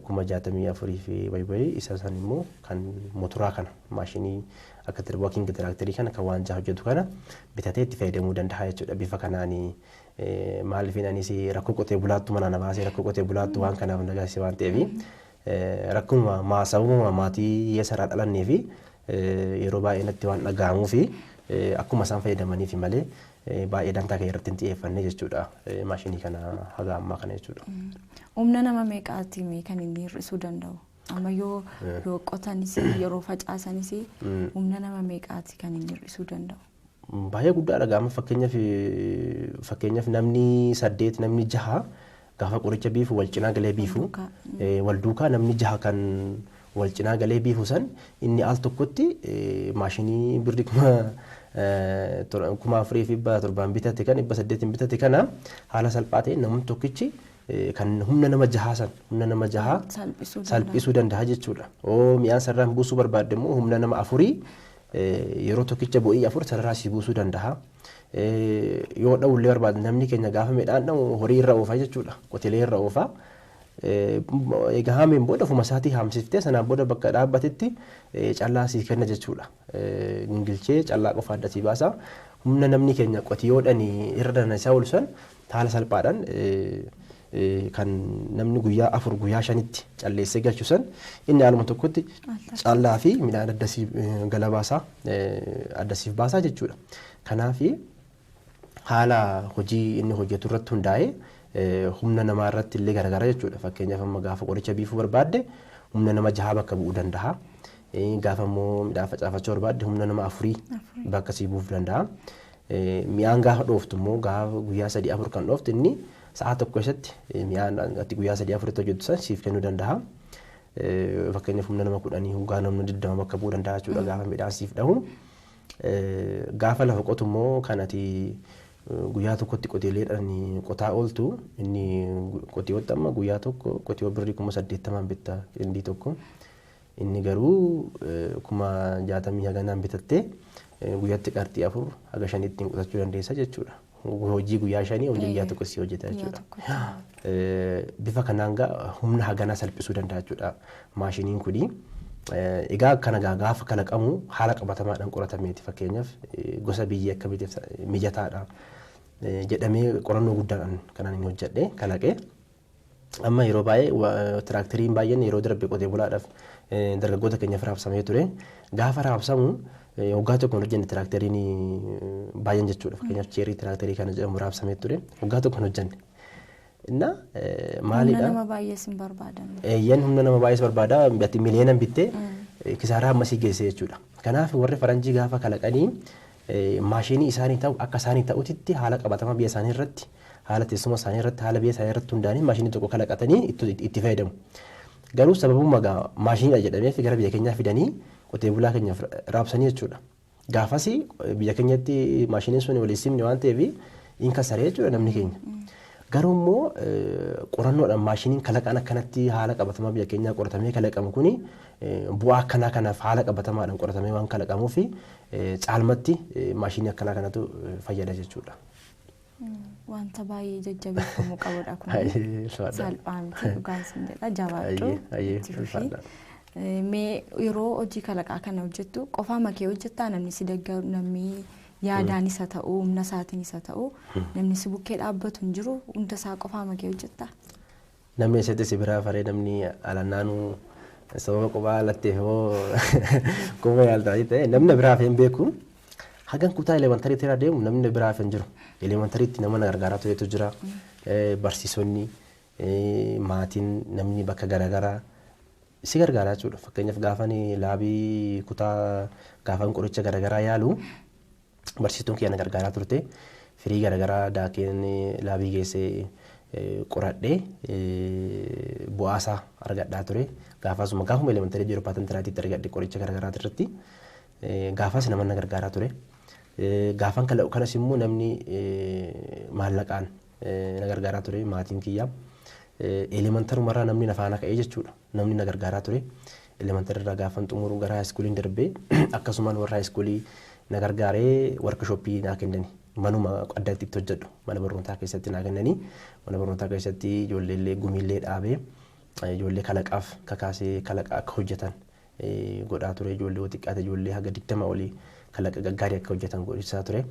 kuma jaatamii afurii fi wayi wayi isa san immoo kan motoraa kana maashinii akka tir- working tiraaktarii kana kan waanjaa hojjetu kana bitatee itti fayyadamuu danda'a jechuudha bifa kanaan eh, maaliifin anis rakkoo qotee bulaattu manaa na baasee rakkoo qotee bulaattu waan kanaaf na gaasise waan ta'eef eh, rakkuma maa sababuma maatii hiyyeessa irraa dhalannee fi eh, yeroo baay'ee natti waan dhaga'amuu fi eh, akkuma isaan fayyadamaniif malee baay'ee dantaa kee irratti hin xiyyeeffanne jechuudha maashinii kana haga ammaa kana jechuudha. Humna nama meeqaatiin kan inni hir'isuu danda'u? Amma yoo yoo qotanis yeroo facaasanis humna nama meeqaati kan inni hir'isuu danda'u? Baay'ee guddaadha gaama fakkeenyaaf fakkeenyaaf namni saddeet namni jaha Gaafa qoricha biifu wal cinaa galee biifu wal duukaa namni jaha kan wal cinaa galee biifu san inni al tokkotti maashinii birri kuma kuma afurii fi dhibba torbaan bitate kan dhibba saddeetiin bitate kana haala salphaa ta'een namni tokkichi kan humna nama jahaa san humna nama jahaa salphisuu danda'a jechuudha. Oo mi'aan sararaan buusuu barbaadde immoo humna nama afurii yeroo tokkicha bo'ii afur sararraa sii buusuu danda'a. Yoo dha'uu illee barbaadne namni keenya gaafa midhaan dha'u horii irra oofa jechuudha. Qotilee irra oofa. Egaa haameen booda ofuma isaatii haamsiftee sanaan booda bakka dhaabbatetti callaa sii kenna jechuudha. Gingilchee callaa qofa adda sii baasa. Humna namni keenya qotiyoodhani irra dana isaa ol san haala salphaadhaan kan namni guyyaa afur guyyaa shanitti calleessee galchu san inni haaluma tokkotti callaa fi midhaan adda siif galabaasaa adda siif baasaa jechuudha. Kanaaf haala hojii inni hojjetu irratti hundaa'ee humna namaa irratti illee garagara jechuudha. Fakkeenyaaf amma gaafa qoricha biifuu barbaadde humna nama jahaa bakka bu'uu danda'a. Gaafa immoo midhaan facaafachuu barbaadde humna nama afurii bakka sii buuf danda'a. Mi'aan gaafa dhooftu immoo gaafa guyyaa sadii afur kan dhooftu inni sa'a tokko keessatti mi'aan ati guyyaa sadii afuritti hojjettu san siif kennuu danda'a. Fakkeenyaaf humna nama kudhanii hoggaa namni digdama bakka bu'uu danda'a jechuudha gaafa midhaan siif dhahu. Gaafa lafa qotu immoo kan ati guyyaa tokkotti qoteeleedhaan qotaa ooltu inni qotiyootti amma guyyaa tokko qotiyoo birrii kuma saddeettamaan bitta qindii tokko. Inni garuu kuma jaatamii haganaan bitattee guyyatti qarxii afur haga shanii ittiin qusachuu dandeessa jechuudha. Hojii guyyaa shanii hojii guyyaa tokko si hojjeta jechuudha. Bifa kanaan gaa humna haganaa salphisuu danda'a jechuudha maashiniin kuni. Egaa kana gaa gaafa kalaqamu haala qabatamaadhaan qoratameeti fakkeenyaaf gosa biyyee akkamiitiif mijataadha jedhamee qorannoo guddaadhaan kanaan hin hojjedhe kalaqe. Amma yeroo baay'ee tiraakteriin baay'een yeroo darbe qotee bulaadhaaf dargaggoota keenyaaf raabsamee ture. Gaafa raabsamu waggaa tokko hin hojjenne tiraakteriin baay'een jechuudha. Fakkeenyaaf cheerii tiraakterii kana jedhamu raabsamee ture. Waggaa tokko hin hojjenne. Inna maalidha? Humna nama baay'ees hin barbaadan. Eeyyan humna nama baay'ees barbaada. Ati miliyeenan bittee kisaaraa ammasii geessee jechuudha. Kanaaf warri faranjii gaafa kalaqanii maashiinii isaanii ta'u akka isaanii ta'utitti haala qabatama biyya isaanii irratti haala teessuma isaanii irratti haala biyya isaanii irratti hundaanii maashiinii tokko kalaqatanii itti fayyadamu. Garuu sababuma gaa maashiiniidha jedhameef gara biyya keenyaa fidanii qotee bulaa keenyaaf raabsanii jechuudha. Gaafasi biyya keenyatti maashiiniin sun walii simne waan ta'eef hin kasaree jechuudha namni keenya. Garuu immoo qorannoodhaan maashiiniin kalaqaan akkanatti haala qabatamaa biyya keenyaa qoratamee kalaqamu kuni bu'aa akkanaa kanaaf haala qabatamaadhaan qoratamee waan kalaqamuuf caalmatti maashinii akkanaa kanatu fayyada jechuudha. Wanta baay'ee jajjabeeffamuu qabudha kun. Baay'ee ulfaadha. Salphaa miti dhugaan sin jedha jabaadhu. Ayyee, ayyee, itti fufi. ulfaadha. Eh, Mee yeroo hojii kalaqaa kana hojjettu qofaa makee hojjettaa namni si deeggaru namni yaadaan isa ta'u humna isaatiin isa ta'u namni si bukkee dhaabbatu hin jiru hunda isaa qofaa makee hojjettaa. Namni eseti si biraa faree namni alannaanu sababa qubaa latteef moo qubuma yaalta wayii ta'e namni na biraa hafee hin beeku hagan kutaa elementary tiraa deemu namni na biraa hafe hin jiru elementary tti nama na gargaaraa turetu jira Eh, barsiisonni eh, maatiin namni bakka garaagaraa si gargaaraa jechuudha fakkeenyaaf gaafan laabii kutaa gaafan qoricha garaagaraa yaalu Barsiistuun kiyya na gargaaraa turte. Firii garagaraa daakeen laabii geessee qoradhee bu'aasaa argadhaa ture. Gaafasuma gaafuma elementarii jiru paatan tiraatiitti argadhe qoricha garagaraati irratti. Gaafas naman na gargaaraa ture. Gaafan kalaqu kanas immoo namni maallaqaan na gargaaraa ture maatiin kiyya. Elemantarumarraa namni na faana ka'ee jechuudha. namni na gargaaraa ture. Elementary irraa gaafan xumuru gara high school'n darbe akkasumaan warra high school na gargaaree workshop naa kennani. Manuma addatti itti hojjedhu mana barnootaa keessatti naa kennani. Mana barnootaa keessatti ijoollee illee gumii illee dhaabee ijoollee kalaqaaf kakaasee kalaqa akka hojjetan godhaa ture. Ijoollee yoo xiqqaate ijoollee haga digdama olii kalaqa gaggaarii akka hojjetan godhisaa ture.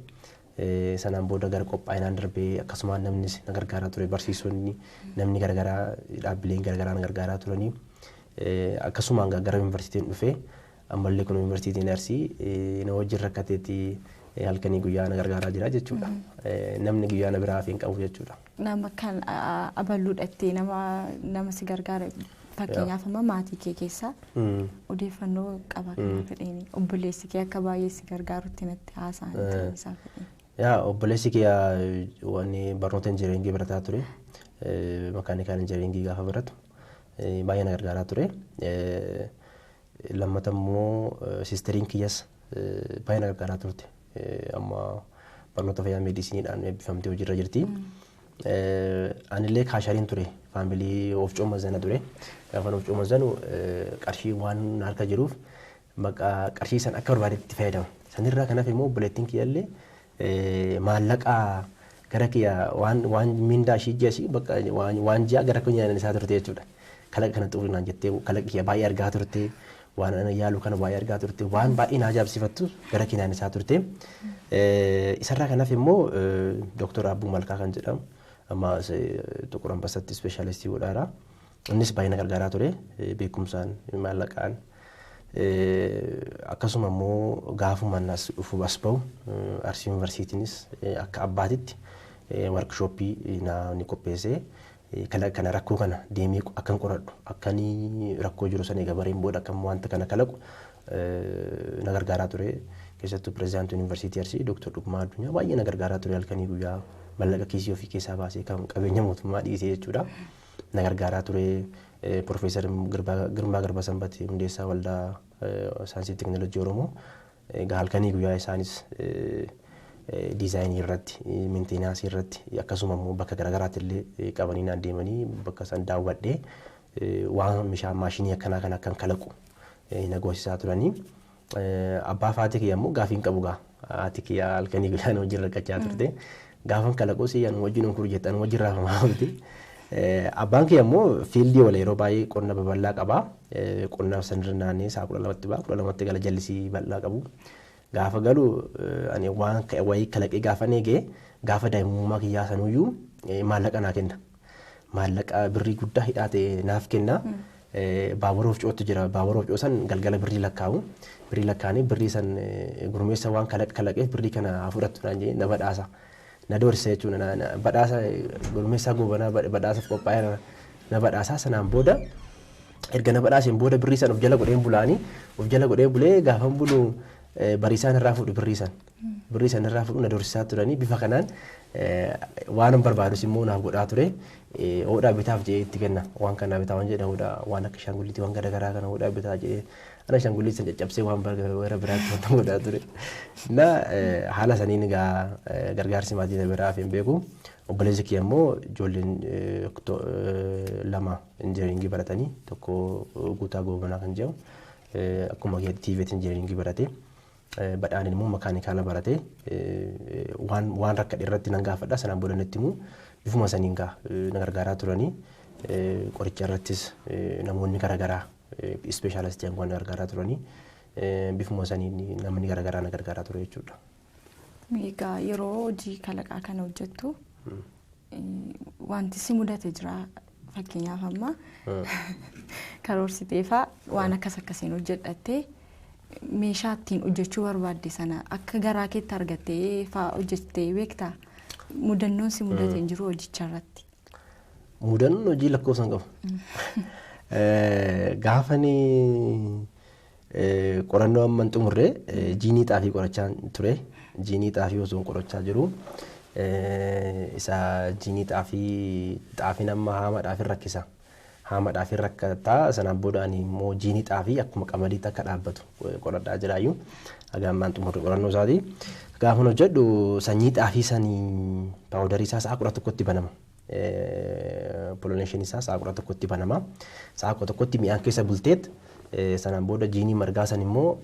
Sanaan booda gara qophaa'inaan darbee akkasumaan namnis na gargaaraa ture barsiisonni namni garagaraa dhaabbileen garagaraa na gargaaraa turanii akkasumaan gara yuunivarsiitiin dhufee ammallee kun yuunivarsiitiin arsii na wajjin rakkateetti halkanii guyyaa na gargaaraa jira jechuudha. Namni guyyaa na biraa hafee hin qabu jechuudha. Nama kan abaluudha itti nama nama si gargaara fakkeenyaaf amma maatii kee keessaa odeeffannoo qaba kana fedheeni obboleessi kee akka baay'ee si gargaarutti natti haasa'an ta'uu isaa fedheeni. Yaa obboleessi kee waan barnoota injinariingii barataa ture makaanikaan injinariingii gaafa baratu baay'ee na gargaaraa ture. Lammata immoo siisteriin kiyyas baay'ee na gargaaraa turte. Amma barnoota fayyaa meediisiniidhaan eebbifamtee hojiirra jirti. Anillee kaashariin ture. Faamilii oofcoo mazana ture. Gaafan oofcoo mazanu qarshii waan na harka jiruuf maqaa qarshii san akka barbaadetti itti fayyadama. Sanirraa kanaaf immoo obboleettiin kiyyallee maallaqa gara kiyya waan waan mindaa ishii ji'a ishii bakka waan waan ji'a gara kiyya isaa turte jechuudha. Kalaqa kana xurii naan jettee kalaqi kiyya baay'ee argaa turte waan ana yaalu kana baay'ee argaa turte waan baay'ee naa ajaa'ibsiifattu gara kiyya naan isaa turte. Isarraa kanaaf immoo Dooktor Abbuu Malkaa kan jedhamu amma Xuqur Anbassatti ispeeshaalistii godhaara. Innis baay'ee na gargaaraa ture beekumsaan, maallaqaan akkasuma immoo gaafumaan as dhufu as ba'u Arsii Yuunivarsiitiinis akka abbaatitti warkishooppii naa ni qopheessee kalaqa kana rakkoo kana deemee akkan qoradhu akkan rakkoo jiru sana egaa bareen booda akkam wanta kana kalaqu na gargaaraa ture keessattuu pirezidaantii yuunivarsiitii Arsii Dooktar Dhugumaa Addunyaa baay'ee na gargaaraa ture halkanii guyyaa mallaqa kiisii ofii keessaa baasee kan qabeenya mootummaa dhiisee jechuudha. na gargaaraa ture. Pirofeesar Girmaa Garbasanbat hundeessaa Waldaa Saayinsii fi Teknolojii Oromoo egaa halkanii guyyaa isaanis diizaayinii irratti, meentenaasii irratti akkasuma immoo bakka garaagaraatti illee qabanii naan deemanii bakka isaan daawwadhee waan meeshaa maashinii akkanaa kana akkan kalaqu na goosisaa turanii. Abbaa faatii kiyya ammoo gaafii hin qabu gaa. Haati kiyya halkanii guyyaa na wajjin rakkachaa turte. Gaafan kalaqus anuma wajjin onkuru jette anuma wajjin raafamaa oolti. Abbaan kiyya ammoo fiildii oola yeroo baay'ee qonna babal'aa qaba. Qonnaaf sanirra naannee sa'a kudha lamatti ba'a kudha lamatti gala jallisii bal'aa qabu. Gaafa galu ani waan wayii kalaqee gaafan eege gaafa daa'imummaa kiyyaa sanuyyuu maallaqa naa kenna. maallaqa birrii guddaa hidhaa ta'e naaf kenna. Baabura ofcootti jira. Baabura ofcoo san galgala birrii lakkaa'u. Birrii lakkaa'anii birrii san gurmeessa waan kalaq kalaqeef birrii kana haa fudhattu naan jedhee na badhaasa. Na doorsisa jechuudha. Badhaasa gurmeessaa goobanaa badhaasaaf qophaa'eera na badhaasaa sanaan booda erga na badhaaseen booda birrii san of jala godheen bulaanii of jala godhee bulee gaafan bulu bariisaan irraa fuudhu birrii san. Birrii san irraa fudhu na dorsisaa turanii bifa kanaan waanan barbaadus immoo naaf godhaa ture. Hoodhaa bitaaf jedhee itti kenna. Waan kana bitaa waan jedha hoodhaa waan akka shaangulliitii waan garaagaraa kana hoodhaa bitaa jedhee ana shaangulliitii san caccabsee waan gara biraatti waan godhaa ture. Na haala saniin egaa gargaarsi maatii na biraa hafee hin beeku. Obboleessi kiyya immoo ijoolleen lama injinariingii baratanii tokko guutaa goobanaa kan jedhamu akkuma kiyya tiiveet injinariingii baratee. Badhaaneen immoo makaanikaala barate. Waan waan rakkadhe irratti nan gaafadha sanaan booda natti himu. Bifuma saniin gaa na gargaaraa turanii. Qoricha irrattis namoonni garagaraa ispeeshaalistii hanguwaan na gargaaraa turanii. Bifuma saniin namni garagaraa na gargaaraa ture jechuudha. Egaa yeroo hojii kalaqaa kana hojjettu wanti si mudate jira fakkeenyaaf amma karoorsiteefaa waan akkas akkasiin hojjedhattee meeshaa ittiin hojjechuu barbaadde sana akka garaa keetti argattee faa hojjettee beektaa mudannoon si mudate hin jiru hojicha irratti. Mudannoon hojii lakkoofsan qabu. Gaafanii Qorannoo amma hin xumurre jiinii xaafii qorachaan ture. Jiinii xaafii osoo hin qorachaa jiru isa jiinii xaafii xaafiin amma haamaadhaaf hin rakkisa. Haamaadhaaf hin rakkata sanaan booda ani immoo jiinii xaafii akkuma qamadiitti akka dhaabbatu qoradhaa jiraayyuu haga ammaan xumurre qorannoo isaati. Gaafan hojjedhu sanyii xaafii sanii paawudarii isaa sa'a kudha tokkotti banama. pollination isaa sa'a kudha tokkotti banama. Sa'a kudha tokkotti mi'aan keessa bulteet sanaan booda jiinii margaa san immoo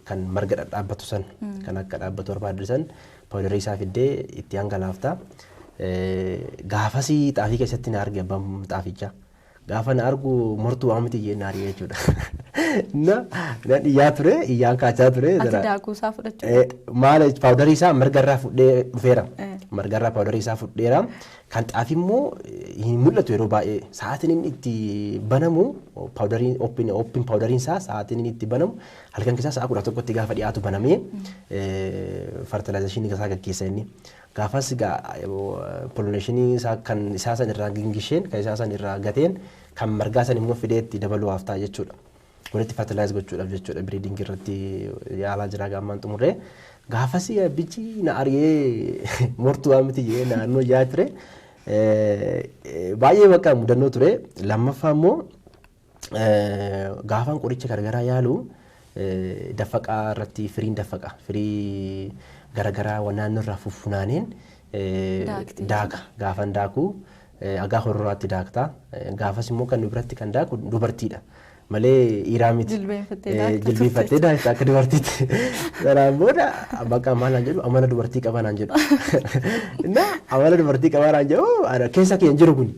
kan marga dhadhaabbatu san kan akka dhaabbatu barbaadde san pawudarii isaa fiddee itti hangalaafta. Gaafasii xaafii keessatti na arge abbaan xaafichaa. Gaafa na argu mortuu waan miti jeen na ari'ee jechuudha. Na na dhiyyaa ture iyyaan kaachaa ture. Ati zara- daakuu isaa fudhachuu Eh, maal jech- paawudarii isaa margarraa fudhee dhufeera. Eh. Margarraa paawudarii isaa fudheera. Kan xaafi immoo eh, hin mul'atu yeroo baay'ee. Sa'aatiin inni itti banamu paawudariin ooppiin ooppiin paawudariin isaa sa'aatiin inni itti banamu halkan keessaa sa'a kudha tokkotti gaafa dhiyaatu banamee fertilaayizeeshinii isaa gaggeessa inni. Gaafas egaa pollineeshinii isaa kan isaa san irraa gingisheen kan isaa san irraa gateen kan margaa san immoo fidee itti dabaluwaaf ta'a jechuudha. Walitti fertilize gochuudhaaf jechuudha breeding irratti yaalaa jira egaa ammaan xumurree. Gaafas abbichi na ariyee mortuu waan miti jedhee naannoo yaa ture. Baay'ee bakka mudannoo ture. Lammaffaa immoo gaafaan qoricha garagaraa yaalu daffaqaa irratti firiin daffaqa firii garagaraa waan naannoo irraa fuffunaaneen daaka gaafan daaku agaa horroraatti daakta gaafas immoo kan biratti kan daaku dubartiidha. malee dhiiraa miti. Jilbeeffattee daakta akka dubartiitti. Sanaan booda bakka maal naan jedhu amala dubartii qabaa naan jedhu. Na amala dubartii qabaa naan jedhu keessa kee hin jiru kun.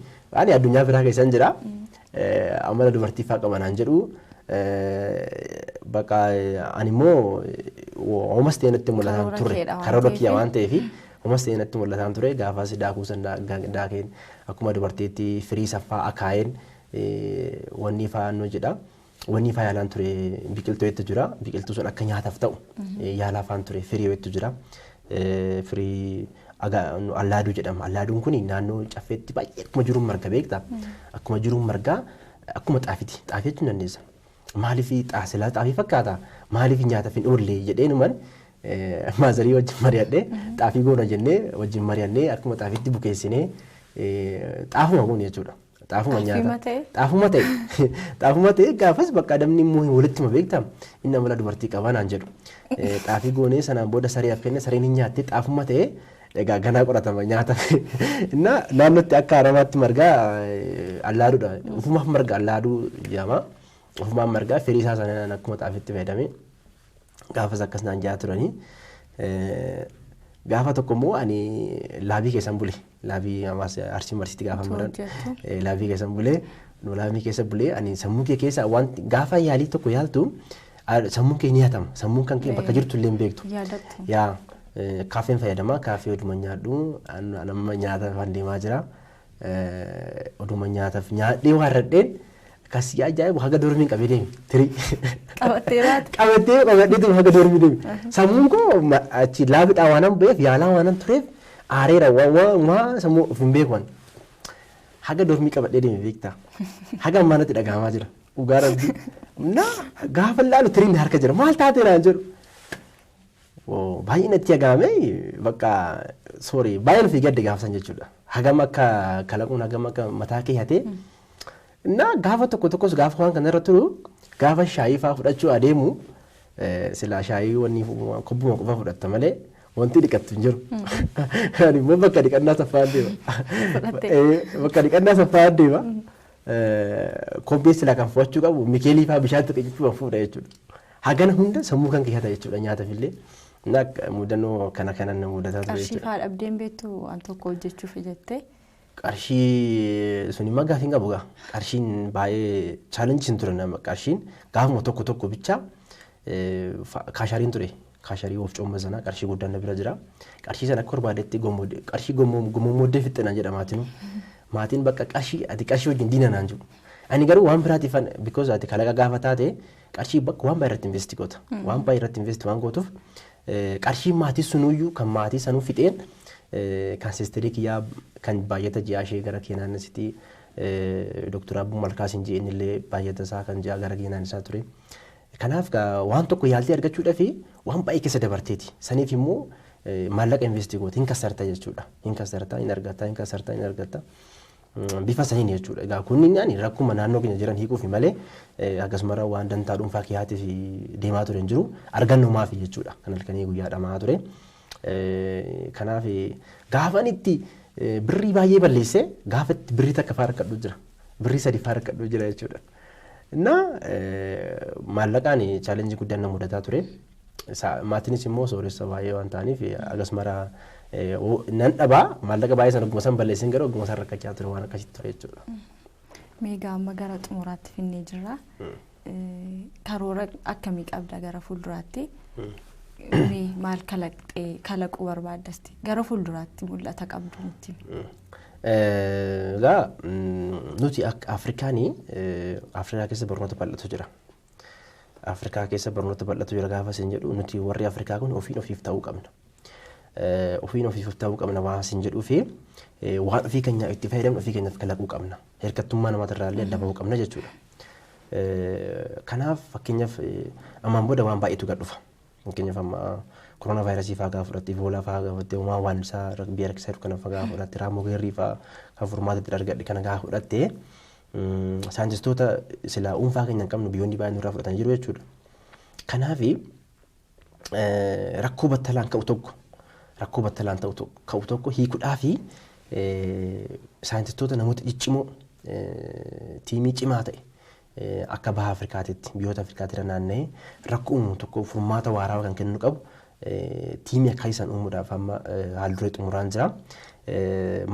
Ani addunyaa biraa keessa hin jira. amala dubartii faa qaba naan jedhu baqa ani immoo homas ta'e natti mul'ataan Karoora ture keedha waan karoora ta'eef. kiyya waan ta'eef homas ta'e natti mul'ataan ture gaafas daakuu san daa- gaa- daakeen akkuma dubartiitti firii saffaa akaayeen eh, wanni faa nu jedha wanni faa yaalaan ture biqiltuu hedduu jira biqiltuu sun akka nyaataaf ta'u eh, yaalaa faan ture firii hedduu jira firii aga- nu allaaduu jedhama. Allaaduun kun naannoo caffeetti baay'ee akkuma jiruun marga beekta. Akkuma jiruun margaa akkuma xaafiti. Xaafii jechuun dandeessa. Maaliif xaa silaa xaafii fakkaata? Maaliif nyaataaf hin oolle jedheenuman eh, maazarii wajjin mari'adhee xaafii goona jennee wajjin mari'annee akkuma xaafiitti bukeessinee eh, xaafuma goone jechuudha. Xaafuma Xaafii nyaata. matee. Xaafuma ta'e. Xaafuma ta'e gaafas bakka adamni immoo hin walitti hima beektaa? Inni amala dubartii qabaa naan jedhu. Eh, Xaafii goonee sanaan booda saree af kenne sareen hin nyaatte xaafuma ta'e egaa ganaa qoratama nyaata. Innaa naannootti akka aramaatti margaa eh, allaaduudha. Ufumaaf marga allaaduu jedhama. Ufumaan margaa firii isaa sanaan akkuma xaafiitti fayyadamee. gaafas akkas naan jaa turanii. Gaafa tokko immoo ani laabii keessan bule. Laabii ammas arsii marsiitti gaafa maran laabii keessan bule. Nu laabii keessa bule ani sammuu kee keessa wanti gaafa yaalii tokko yaaltu sammuun kee ni hatama. Sammuun kan kee bakka jirtu illee hin beektu. Yaa kaafeen fayyadama kaafee oduma nyaadhu amma nyaata kan deemaa jira. Oduma nyaataf nyaadhee waarradheen kan si ajaa'ibu haga dormiin qabee deemi tirii. Qabattee baate. Qabattee qabadhee tuma haga dormii deemi. Sammuun koo achi laafidhaa waanan ba'eef yaalaa waanan tureef aareera waa sammuu of hin beeku ani. Haga dormii qabadhee deemi beektaa. Haga ammaa natti dhagahamaa jira. Dhugaa rabbi. Na gaafa laalu tiriin harka jira maal taatee naan jedhu. Woo baay'ee natti dhaga'ame bakka sorry baay'ee nuti gadde gaafa san jechuudha. Hagam akka kalaquun hagam akka mataa kee hatee na gaafa tokko tokkos gaafa waan kana irra turu gaafa shaayii fa'aa fudhachuu adeemu eh, silaa shaayii wanni fu- kobbuma qofa fudhatta malee wanti dhiqattu hin jiru. Ani immoo bakka dhiqannaa saffaan deema. Fudhattee. Eh, Bakka dhiqannaa saffaan deema. Kobbee silaa kan fudhachuu qabu mikeelii fa'aa bishaan tuqe jechuun fuudha jechuudha. Hagana hunda sammuu kan keessa jechuudha nyaataf illee. Mudannoo kana kanan na mudataa ture Qarshii fa'aa dhabdeen beektu waan tokko hojjechuuf jettee. Qarshii suni immoo gaafiin qabu gaa. Qarshiin baay'ee chaalenjii hin ture nama qarshiin gaafuma tokko tokko bichaa kaashariin ture. Kaasharii wofcoomma sanaa qarshii guddaan na bira jira. Qarshii sana akka barbaadetti gommode qarshii gommoommooddee fixxe naan jedha maatinuu. Maatiin bakka qarshii ati qarshii wajjin diina naan jedhu. Ani garuu waan biraatiif because ati kalaqa gaafa taate qarshii bakka waan baay'ee irratti investi goota. Waan baay'ee irratti investi waan gootuuf qarshii maatii sunuyyuu kan maatii sanuu fixeen kan sisterii kiyyaa kan baay'ata ji'aa ishee gara keenaan asitti Dooktar Abbuu Malkaas hin ji'een illee baay'ata isaa kan ji'aa gara keenaan isaa ture. Kanaaf gaa waan tokko yaaltee argachuudhafi waan baay'ee keessa dabarteeti. Saniif immoo maallaqa investi goote hin kassarta jechuudha. Hin kassarta, hin argatta, hin kassarta, hin argatta. Bifa saniin jechuudha. Egaa kunniin ani rakkuma naannoo keenya jiran hiikuufi malee akkasumarra waan dantaa dhuunfaa kiyaatii fi deemaa ture hin jiru. Argannoo maafi jechuudha. Kan halkanii guyyaa dhama'aa ture. Kanaaf gaafan itti birrii baay'ee balleessee gaafa itti birrii takka faa rakkadhu jira. Birrii sadi faa rakkadhu jira jechuudha. እና maallaqaan chaalenjii guddaan na mudataa ture. Maatiinis immoo sooressa baay'ee waan ta'aniif agas mara nan dhabaa maallaqa baay'ee sana ogguma san balleessin garuu ogguma san rakkachaa ture waan akkasitti ture jechuudha. Meegaa amma gara xumuraatti finnee jirra. Karoora akkamii qabda gara fuulduraatti? Maal kalaqxee kalaquu barbaadda? Gara fuulduraatti mul'ata qabdu nutti. Egaa nuti akka Afrikaan Afrikaa keessa barnoota bal'atu jira. Afrikaa keessa barnoota bal'atu jira gaafa isin jedhu nuti warri Afrikaa kun ofiin ofiif ta'uu qabna. Ofiin ofiif ta'uu qabna waan isin jedhuu fi waan ofii keenyaa itti fayyadamnu ofii keenyaaf kalaquu qabna. Hirkattummaa namoota irraa illee adda bahuu qabna jechuudha. Kanaaf fakkeenyaaf ammaan booda waan baay'eetu gad dhufa. Fakkeenyaaf amma koroonaa vaayirasii fa'aa gaafa fudhatte, ivoolaa fa'aa gaafa fudhatte, homaa waannisaa biyya rakkisaa jiru kana fa'aa gaafa fudhatte, raammoo geerrii fa'aa kan furmaata itti argadhe kana gaafa fudhatte saayintistoota silaa dhuunfaa keenya hin qabnu biyyoonni baay'een nurraa fudhatanii jiru jechuudha. Kanaaf rakkoo battalaan ka'u tokko rakkoo battalaan ka'u tokko hiikudhaa fi saayintistoota namoota ciccimoo tiimii cimaa ta'e akka Baha Afrikaatitti biyyoota Afrikaatti irra naanna'ee rakkoo uumu tokko furmaata waaraawa kan kennuu qabu tiimii akkaasii san uumuudhaaf amma haalduree xumuraan jira.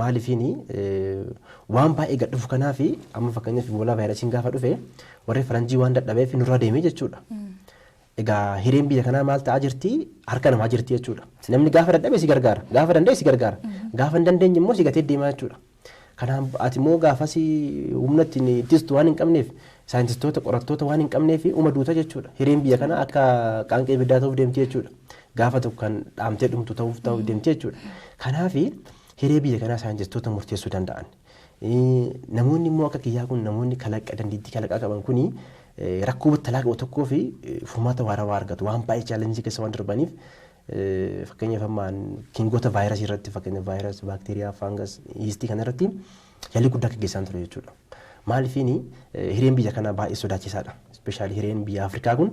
Maaliifiini waan baay'ee gad dhufu kanaaf amma fakkeenyaaf iboolaa vaayirasiin gaafa dhufe warri faranjii waan dadhabeef nurra deemee jechuudha. Egaa hireen biyya kanaa maal ta'aa jirti harka namaa jirti jechuudha. Namni gaafa dadhabe si gargaara gaafa danda'e si gargaara gaafa hin dandeenye immoo si gatee deemaa jechuudha. Kanaan ati immoo gaafasi humna ittiin ittistu waan hin qabneef saayintistoota qorattoota waan hin qabneef uma duuta jechuudha. Hireen biyya kanaa akka qaanqee ibiddaa ta'uuf deemti jechuudha. Gaafa tokko kan dhaamtee dhumtu ta'uuf ta'uuf deemti jechuudha. Kanaaf hiree biyya kanaa saayintistoota murteessuu danda'an. Namoonni immoo akka kiyyaa kun namoonni kalaqa dandeettii kalaqaa qaban kun rakkoo battalaa qabu tokkoo fi furmaata waarawaa argatu. Waan baay'ee chaalenjii keessa waan darbaniif Fakkeenyaaf amma kingoota vaayirasii irratti fakkeenyaaf vaayirasii, baakteeriyaa, faangas, yiistii kana irratti yaalii guddaa gaggeessaan ture jechuudha. Maalifiin hireen biyya kanaa baay'ee sodaachisaadha. Ispeeshaalii hireen biyya Afrikaa kun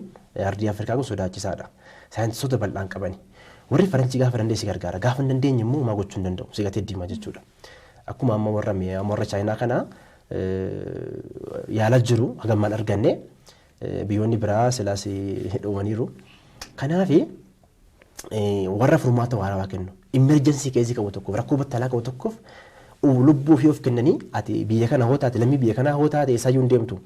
ardii Afrikaa kun sodaachisaadha. Saayintistoota bal'aan qabani. Warri Faranjii gaafa danda'e si gargaara. Gaafa hin dandeenye immoo homaa gochuu hin danda'u. Si gatee deema jechuudha. Akkuma amma warra warra Chaayinaa kana yaalaa jiru hagammaan arganne Biyyoonni biraa silaas dhumaniiru. Kanaaf warra furmaata waarawaa kennu immerjensii keezii qabu tokkoof rakkoo battalaa qabu tokkoof lubbuu ofii of kennanii ati biyya kana hoo taate lammii biyya kanaa hoo taate eessaayyuu hin deemtu.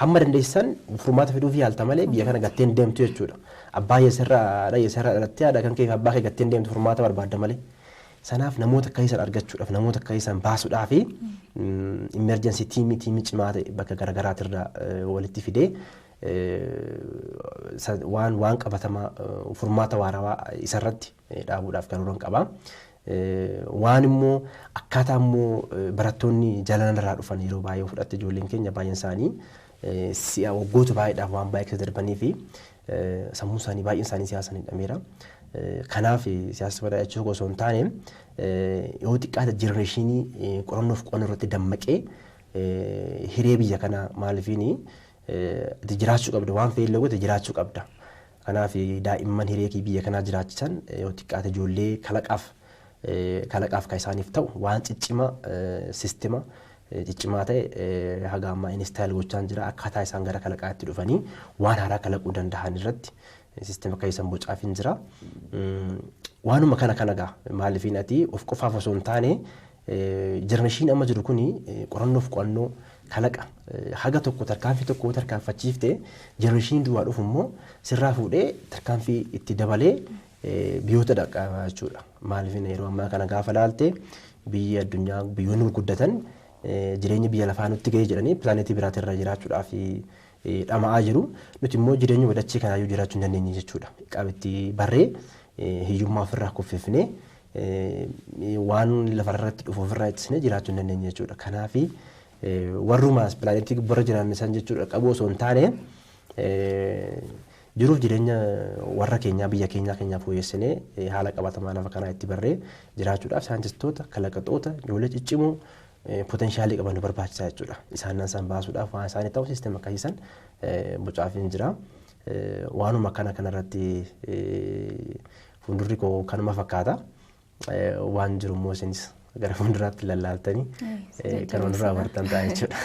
Hamma dandeessisan furmaata fiduuf yaalta malee biyya kana gattee hin deemtu jechuudha. Abbaa yeesarraa haadha yeesarraa dhalattee haadha kan kee fi abbaa kee gattee hin deemtu furmaata barbaadda malee. Sanaaf namoota akka keessan argachuudhaaf, namoota akka keessan baasuudhaaf immerjensii tiimii tiimii cimaa ta'e bakka garaagaraatirraa walitti fidee waan waan qabatamaa furmaata waarawaa isarratti dhaabuudhaaf karoora qaba. Waan immoo akkaataa immoo barattoonni jalalan irraa dhufan yeroo baay'ee fudhatte ijoolleen keenya baay'een isaanii Si'a waggoota baay'eedhaaf waan baay'ee keessa darbanii fi sammuun isaanii baay'een isaanii siyaasaan hidhameera. Kanaaf siyaasa badaa jechuu osoo hin taane yoo xiqqaate jenereeshinii qorannoof qo'annoo irratti dammaqee hiree biyya kanaa maalifiini ati jiraachuu qabda waan fe'ee illee goote jiraachuu qabda. Kanaaf daa'imman hiree biyya kanaa jiraachisan yoo xiqqaate ijoollee kalaqaaf kalaqaaf kan isaaniif ta'u waan ciccimaa sistema ciccimaa ta'e haga ammaa instaayil gochaan jira akkaataa isaan gara kalaqaa itti dhufanii waan haaraa kalaquu danda'an irratti sistema kan isaan bocaaf hin jira. Waanuma kana kana gaa maalifiin ati of qofaaf osoo hin taane jenereeshiin amma jiru kuni qorannoof qo'annoo kalaqa haga tokko tarkaanfii tokko yoo tarkaanfachiifte jenereeshiin duraa dhufu immoo sirraa fuudhee tarkaanfii itti dabalee biyoota dhaqqabaa jechuudha. Maaliif yeroo ammaa kana gaafa laalte biyyi addunyaa biyyoonni gurguddatan jireenya biyya lafaa nutti ga'ee jedhanii pilaaneetii biraati irra jiraachuudhaaf dhama'aa jiru. Nuti immoo jireenya wadachii kanaayyuu jiraachuu hin dandeenye jechuudha. Qabitti barree hiyyummaa ofirraa kuffifnee waan lafarratti dhufu ofirraa ittisnee jiraachuu hin dandeenye jechuudha. Kanaaf warrumaas pilaaneetii gubbarra jiraanne san jechuudha qabu osoo hin taane Jiruuf jireenya warra keenyaa, biyya keenyaa keenyaa fooyessinee haala qabatamaa lafa kanaa itti barree jiraachuudhaaf saayintistoota, kalaqatoota, ijoollee ciccimoo poteenshaalii qaban nu barbaachisa jechuudha. Isaan nan san baasuudhaaf waan isaanii ta'u siistem akkasii san bocaafiin jira. Waanuma akkana kanarratti fuuldurri koo kanuma fakkaata. waan jiru immoo isinis gara fuulduraatti lallaaltanii kanuma nurraa bartan ta'a jechuudha.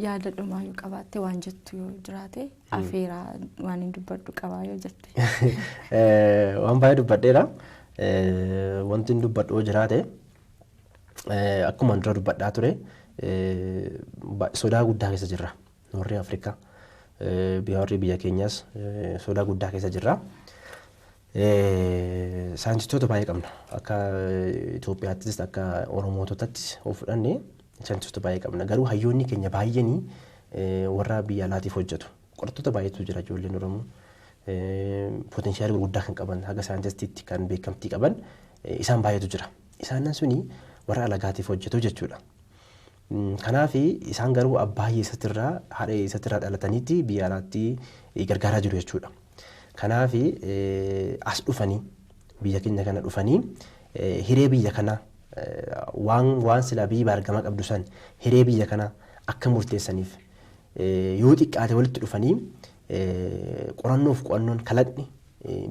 Yaada dhumaa yoo qabaatte waan jettu yoo jiraate afeeraa waan hin dubbadhu qabaa yoo jette. Waan baay'ee dubbadheera. Wanti hin dubbadhu yoo jiraate akkuma dura dubbadhaa ture sodaa guddaa keessa jirra. Warri Afrikaa biyya warri biyya keenyaas sodaa guddaa keessa jirra. Saayintistoota baay'ee qabna. Akka Itoophiyaattis akka Oromoototattis of fudhanne saayintistoota baay'ee qabna. Garuu hayyoonni keenya baay'een warra biyya alaatiif hojjetu. Qorattoota baay'eetu jira ijoolleen Oromoo. Potenshaala gurguddaa kan qaban haga saayintistiitti kan beekamtii qaban isaan baay'eetu jira. Isaanan suni warra alagaatiif hojjetu jechuudha. Kanaafi, isaan garuu abbaa hiyyeessatti irraa, haadha hiyyeessatti irraa dhalataniitti biyya alaatti gargaaraa jiru jechuudha. Kanaafi, as dhufanii, biyya keenya kana dhufanii hiree biyya kanaa waan waan silaa biyyi baargamaa qabdu san hiree biyya kanaa akka murteessaniif yoo xiqqaate walitti dhufanii qorannoof qo'annoon kalaqni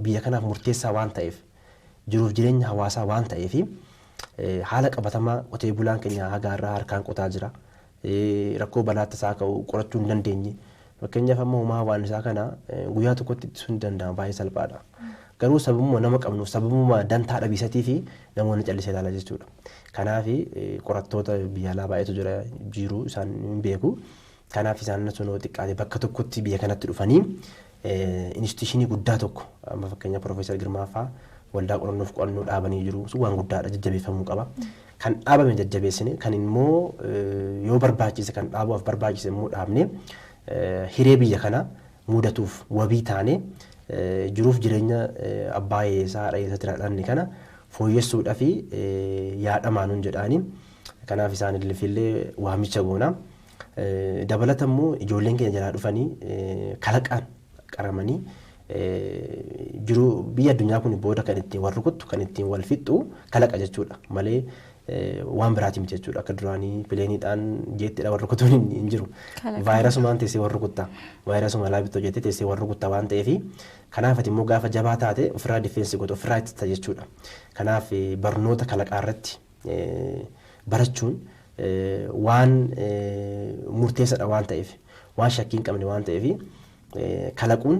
biyya kanaaf murteessaa waan ta'eef jiruuf jireenya hawaasaa waan ta'eef haala qabatamaa qotee bulaan keenya haga har'aa harkaan qotaa jira. Rakkoo balaa tasaa ka'u qorachuu hin dandeenye. Fakkeenyaaf amma homaa waan isaa kana guyyaa tokkotti ittisuun ni danda'ama baay'ee salphaadha. Garuu sababuma nama qabnuuf sababuma dantaa dhabiisatii fi namoonni callisee ilaala jechuudha. Kanaaf qorattoota biyya alaa baay'eetu jira jiru isaan hin beeku. Kanaaf isaan osoo yoo xiqqaate bakka tokkotti biyya kanatti dhufanii instituushinii guddaa tokko amma fakkeenyaaf Piroofeesar Girmaa fa'aa waldaa qorannoof qo'annoo dhaabanii jiru. Sun waan guddaadha jajjabeeffamuu qaba. Kan dhaabame jajjabeessine kan immoo yoo barbaachise kan dhaabuuf barbaachise immoo dhaabne hiree biyya kanaa mudatuuf wabii taane jiruuf jireenya abbaa hiyyeessaa haadha hiyyeessaatti dhaadhanne kana fooyyessuudhaa fi yaadamaanuun jedhaanii kanaaf isaan illee waamicha goona. Dabalata immoo ijoolleen keenya jalaa dhufanii kalaqaan qaramanii jiruu biyya addunyaa kun booda kan ittiin wal rukuttu kan ittiin wal fixxu kalaqa jechuudha malee waan biraatiin jechuudha akka duraanii pileeniidhaan jeettidha wal rukutuun hin jiru. Vaayirasumaan teessee wal rukutta vaayirasuma laabittoo jettee teessee wal rukutta waan ta'eef kanaaf ati immoo gaafa jabaa taate ofirraa difeensi gootu ofirraa ittista jechuudha. Kanaaf barnoota kalaqaa irratti barachuun waan murteessadha waan ta'eef waan shakkii hin qabne waan ta'eef kalaquun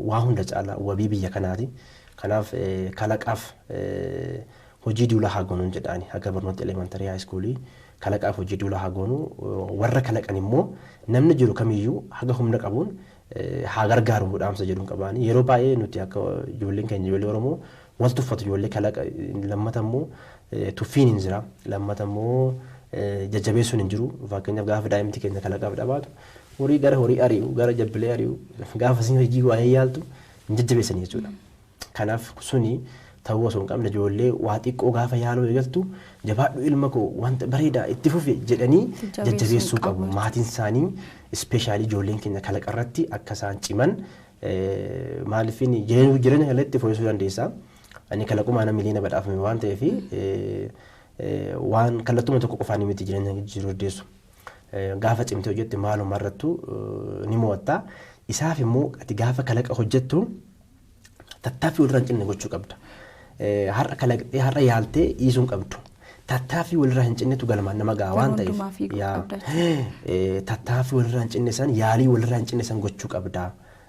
waa hunda caala wabii biyya kanaati. Kanaaf kalaqaaf hojii duulaa haa goonuun jedhaani haga barnoota elemantarii haayiskuulii kalaqaaf hojii duulaa haa goonu warra kalaqan immoo namni jiru kamiyyuu haga humna qabuun haa gargaaruu dhaamsa jedhun qabaani yeroo baay'ee nuti akka ijoolleen keenya ijoollee oromoo wal tuffatu ijoollee kalaqa lammata immoo tuffiin hin jira lammata immoo jajjabeessuun hin jiru fakkeenyaaf gaafa daa'imti keenya kalaqaaf dhabaatu horii gara horii ari'u gara jabbilee ari'u gaafa siin hojii waa'ee yaaltu hin jajjabeessan jechuudha. Kanaaf suni ta'uu osoo hin qabne ijoollee waa xiqqoo gaafa yaaluu eegaltu jabaadhu ilma koo wanta bareedaa itti fufi jedhanii Jajjabeessuu jajjabeessuu qabu qabu. jechuudha. Maatiin isaanii ispeeshaalii ijoolleen keenya kalaqa irratti akka isaan ciman eh, maaliif inni jireenya jireenya kana itti fooyyessuu dandeessa. Ani kalaqumaa nama miliyoona badhaafame waan ta'eef eh, eh, waan kallattuma tokko qofaan miti jireenya jijjiiruu dandeessu. Eh, Gaafa cimtee hojjette maaluma irrattu eh, ni mo'atta. Isaaf immoo ati gaafa kalaqa hojjettu Tattaaffii walirraa hin cinne gochuu qabda. Har'a kalaqxee har'a yaaltee dhiisuu hin qabdu. Tattaaffii walirraa hin cinnetu galmaan nama ga'a waan ta'eef. hundumaa fiiguu Yaa, qabda eh, Tattaaffii walirraa hin cinne san yaalii walirraa hin cinne san gochuu qabda.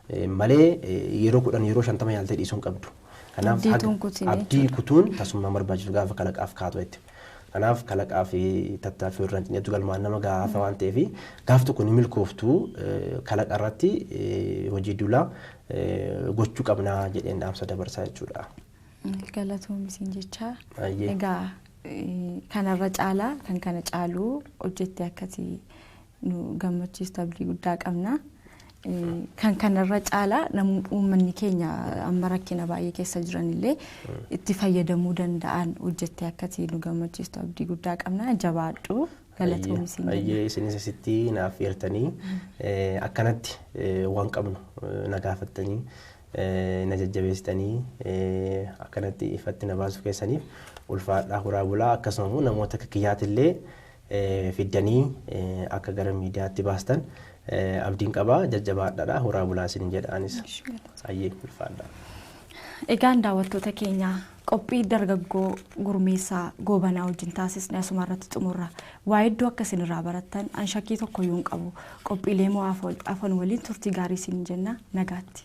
Eh, Malee eh, yeroo kudhan yeroo shantama yaaltee dhiisuu hin qabdu. Kanaaf Abdii haga- tun kutinee abdii kutuun tasummaa barbaachisu gaafa kalaqaaf kaatu jechuudha. Kanaaf kalaqaa fi tattaaffii irraa hin cinetu galmaan nama gahaa haasa waan ta'eef gaaf tokko ni milkooftu kalaqa irratti hojii duula gochuu qabnaa jedheen dhaamsa dabarsaa jechuudha. Galatoom isin jechaa. Egaa kanarra caalaa kan kana caaluu hojjettee akkati nu gammachiistu abdii guddaa qabna. Kan kanarra caalaa uummanni keenya amma rakkina baay'ee keessa jiranillee itti fayyadamuu danda'an hojjettee akkati nu gammachiistu abdii guddaa qabna jabaadhu galatoomi siin jenna. Ayyee isinis asitti naaf eertanii akkanatti waan qabnu na gaafattanii na jajjabeessitanii akkanatti ifatti na baasuu keessaniif ulfaadhaa horaa bulaa akkasuma immoo namoota akka kiyyaatillee fiddanii akka gara miidiyaatti baastan abdiin qaba jajjabaadhaadha horaa bulaa isinin jedha anis ayyee ulfaadha. Egaan daawwattoota keenya qophii dargaggoo gurmeessaa goobanaa wajjin taasisne asuma irratti xumurra. Waa hedduu akka isin irraa barattan an shakkii tokko iyyuu hin qabu. Qophiilee moo afan waliin turtii gaarii isin jenna nagaatti.